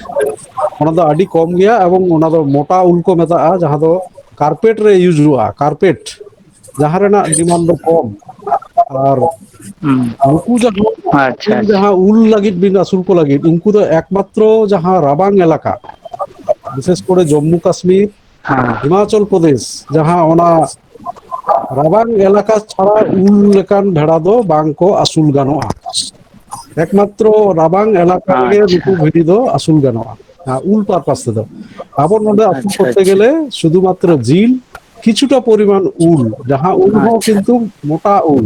ᱚᱱᱟ ᱫᱚ ᱟᱹᱰᱤ ᱠᱚᱢ ᱜᱮᱭᱟ ᱮᱵᱚᱝ ᱚᱱᱟ ᱫᱚ ᱢᱚᱴᱟ ᱩᱞ ᱠᱚ ᱢᱮᱛᱟᱜᱼᱟ ᱡᱟᱦᱟᱸ ᱫᱚ ᱠᱟᱨᱯᱮᱴ ᱨᱮ ᱤᱭᱩᱡᱽ ᱦᱩᱭᱩᱜᱼᱟ ᱠᱟᱨᱯᱮᱴ ᱡᱟᱦᱟᱸ ᱨᱮᱱᱟᱜ ᱰᱤᱢᱟᱱᱰ ᱫᱚ ᱠᱚᱢ ᱟᱨ ᱦᱩᱸ ᱱᱩᱠᱩ ᱡᱟᱦᱟᱸ ᱟᱪᱪᱷᱟ ᱩᱞ ᱟᱪᱪᱷᱟ ᱡᱟᱦᱟᱸ ᱩᱞ ᱞᱟᱹᱜᱤᱫ ᱵᱤᱱ ᱟᱹᱥᱩᱞ ᱠᱚ ᱞᱟᱹᱜᱤᱫ ᱩᱱᱠᱩ ᱫᱚ ᱮᱠᱢᱟᱛᱨᱚ ᱡᱟᱦᱟᱸ ᱨᱟᱵᱟᱝ ᱮᱞᱟᱠᱟ ᱵᱤᱥᱮᱥ ᱠᱚᱨᱮ ᱡᱚᱢᱢᱩ ᱠᱟᱥᱢᱤᱨ ᱦᱮᱸ ᱦᱤᱢᱟᱪᱚᱞ ᱯᱨᱚᱫᱮᱥ ᱡᱟᱦᱟᱸ ᱚᱱᱟ ᱨᱟᱵᱟᱝ ᱮᱞᱟᱠᱟ ᱪᱷᱟᱲᱟ ᱩᱱ ᱞᱮᱠᱟᱱ ᱵᱷᱮᱲᱟ ᱫᱚ ᱵᱟᱝ ᱠᱚ ᱟᱹᱥᱩᱞ ᱜᱟᱱᱚᱜᱼᱟ ᱮᱠᱢᱟᱛᱨᱚ ᱨᱟᱵᱟᱝ ᱮᱞᱟᱠᱟ ᱨᱮᱜᱮ ᱱᱩᱠᱩ ᱟᱪᱪᱷᱟ ᱵᱷᱤᱰᱤ ᱫᱚ ᱟᱹᱥᱩᱞ ᱜᱟᱱᱚᱜᱼᱟ ᱟᱨ ᱩᱞ ᱯᱟᱨᱯᱟᱥ ᱛᱮᱫᱚ ᱟᱵᱚ ᱱᱚᱰᱮ ᱟᱹᱥᱩᱞ ᱟᱪᱪᱷᱟ ᱠᱚᱨᱛᱮ ᱟᱪᱪᱷᱟ ᱜᱮᱞᱮ ᱥᱩᱫᱷᱩ ᱢᱟᱛᱨᱚ ᱡᱤᱞ ᱠᱤᱪᱷᱩᱴᱟ ᱯᱚᱨᱤᱢᱟᱱ ᱩᱞ ᱡᱟᱦᱟᱸ ᱩᱞ ᱦᱚᱸ ᱟᱪᱪᱷᱟ ᱠᱤᱱᱛᱩ ᱢᱚᱴᱟ ᱩᱞ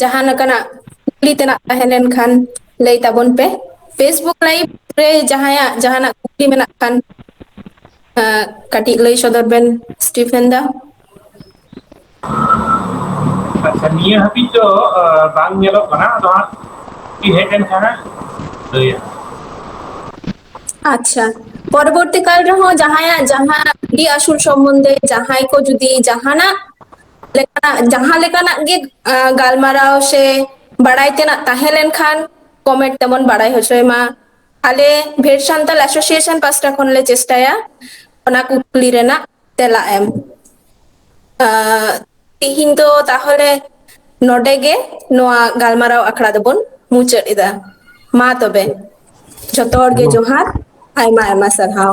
ᱡᱟᱦᱟᱸ ᱞᱮᱠᱟᱱᱟᱜ ᱠᱩᱠᱞᱤ ᱛᱮᱱᱟᱜ ᱛᱟᱦᱮᱸ ᱞᱮᱱ ᱠᱷᱟᱱ ᱞᱟᱹᱭ ᱛᱟᱵᱚᱱ ᱯᱮ ᱯᱷᱮᱥᱵᱩᱠ ᱞᱟᱭᱤᱵᱽ ᱨᱮ ᱡᱟᱦᱟᱸᱭᱟᱜ ᱡᱟᱦᱟᱱᱟᱜ ᱠᱩᱠᱞᱤ ᱢᱮᱱᱟᱜ ᱠᱷᱟᱱ ᱮᱸᱜ ᱠᱟᱹᱴᱤᱡ ᱞᱟᱹᱭ ᱥᱚᱫᱚᱨ ᱵᱮᱱ ᱥᱴᱤᱯᱷᱮᱱ ᱫᱟ ᱟᱪᱪᱷᱟ ᱱᱤᱭᱟᱹ ᱦᱟᱹᱵᱤᱡ ᱫᱚ ᱵᱟᱝ ᱧᱮᱞᱚᱜ ᱠᱟᱱᱟ ᱟᱫᱚ ᱦᱟᱸᱜ ᱠᱩᱠᱞᱤ ᱦᱮᱡ ᱞᱮᱱ ᱠᱷᱟᱱ ᱦᱟᱸᱜ ᱞᱟᱹᱭᱟ ᱟᱪᱪᱷᱟ ᱯᱚᱨᱚᱵᱚᱨᱛᱤ ᱠᱟᱞ ᱨᱮᱦᱚᱸ ᱡᱟᱦᱟᱸᱭᱟᱜ ᱡᱟᱦᱟᱸ ᱟᱹᱥᱩᱞ ᱥᱚᱢᱚᱱᱫᱷᱮ ᱡᱟᱦᱟᱸᱭ ᱠᱚ ᱡᱩᱫᱤ ᱡᱟᱦᱟᱱᱟᱜ ᱞᱮᱠᱟᱱᱟᱜ ᱡᱟᱦᱟᱸ ᱞᱮᱠᱟᱱᱟᱜ ᱜᱮ ᱜᱟᱞᱢᱟᱨᱟᱣ ᱥᱮ ᱵᱟᱲᱟᱭ ᱛᱮᱱᱟᱜ ᱛᱟᱦᱮᱸ ᱞᱮᱱᱠᱷᱟᱱ ᱠᱚᱢᱮᱱᱴ ᱛᱮᱵᱚᱱ ᱵᱟᱲᱟᱭ ᱦᱚᱪᱚᱭ ᱢᱟ ᱟᱞᱮ ᱵᱷᱮᱨ ᱥᱟᱱᱛᱟᱞ ᱮᱥᱳᱥᱤᱭᱮᱥᱚᱱ ᱯᱟᱥᱴᱟ ᱠᱷᱚᱱᱞᱮ ᱪᱮᱥᱴᱟᱭᱟ ᱚᱱᱟ ᱠᱩᱠᱞᱤ ᱨᱮᱱᱟᱜ ᱛᱮᱞᱟ ᱮᱢ ᱛᱤᱦᱤᱧ ᱫᱚ ᱛᱟᱦᱚᱞᱮ ᱱᱚᱰᱮ ᱜᱮ ᱱᱚᱣᱟ ᱜᱟᱞᱢᱟᱨᱟᱣ ᱟᱠᱷᱲᱟ ᱫᱚᱵᱚᱱ ᱢᱩᱪᱟᱹᱫ ᱮᱫᱟ ᱢᱟ ᱛᱚᱵᱮ ᱡᱚᱛᱚ ᱦᱚᱲ ᱜᱮ ᱦᱮᱞᱳ ᱡᱚᱦᱟᱨ ᱟᱭᱢᱟ ᱟᱭᱢᱟ ᱥᱟᱨᱦᱟᱣ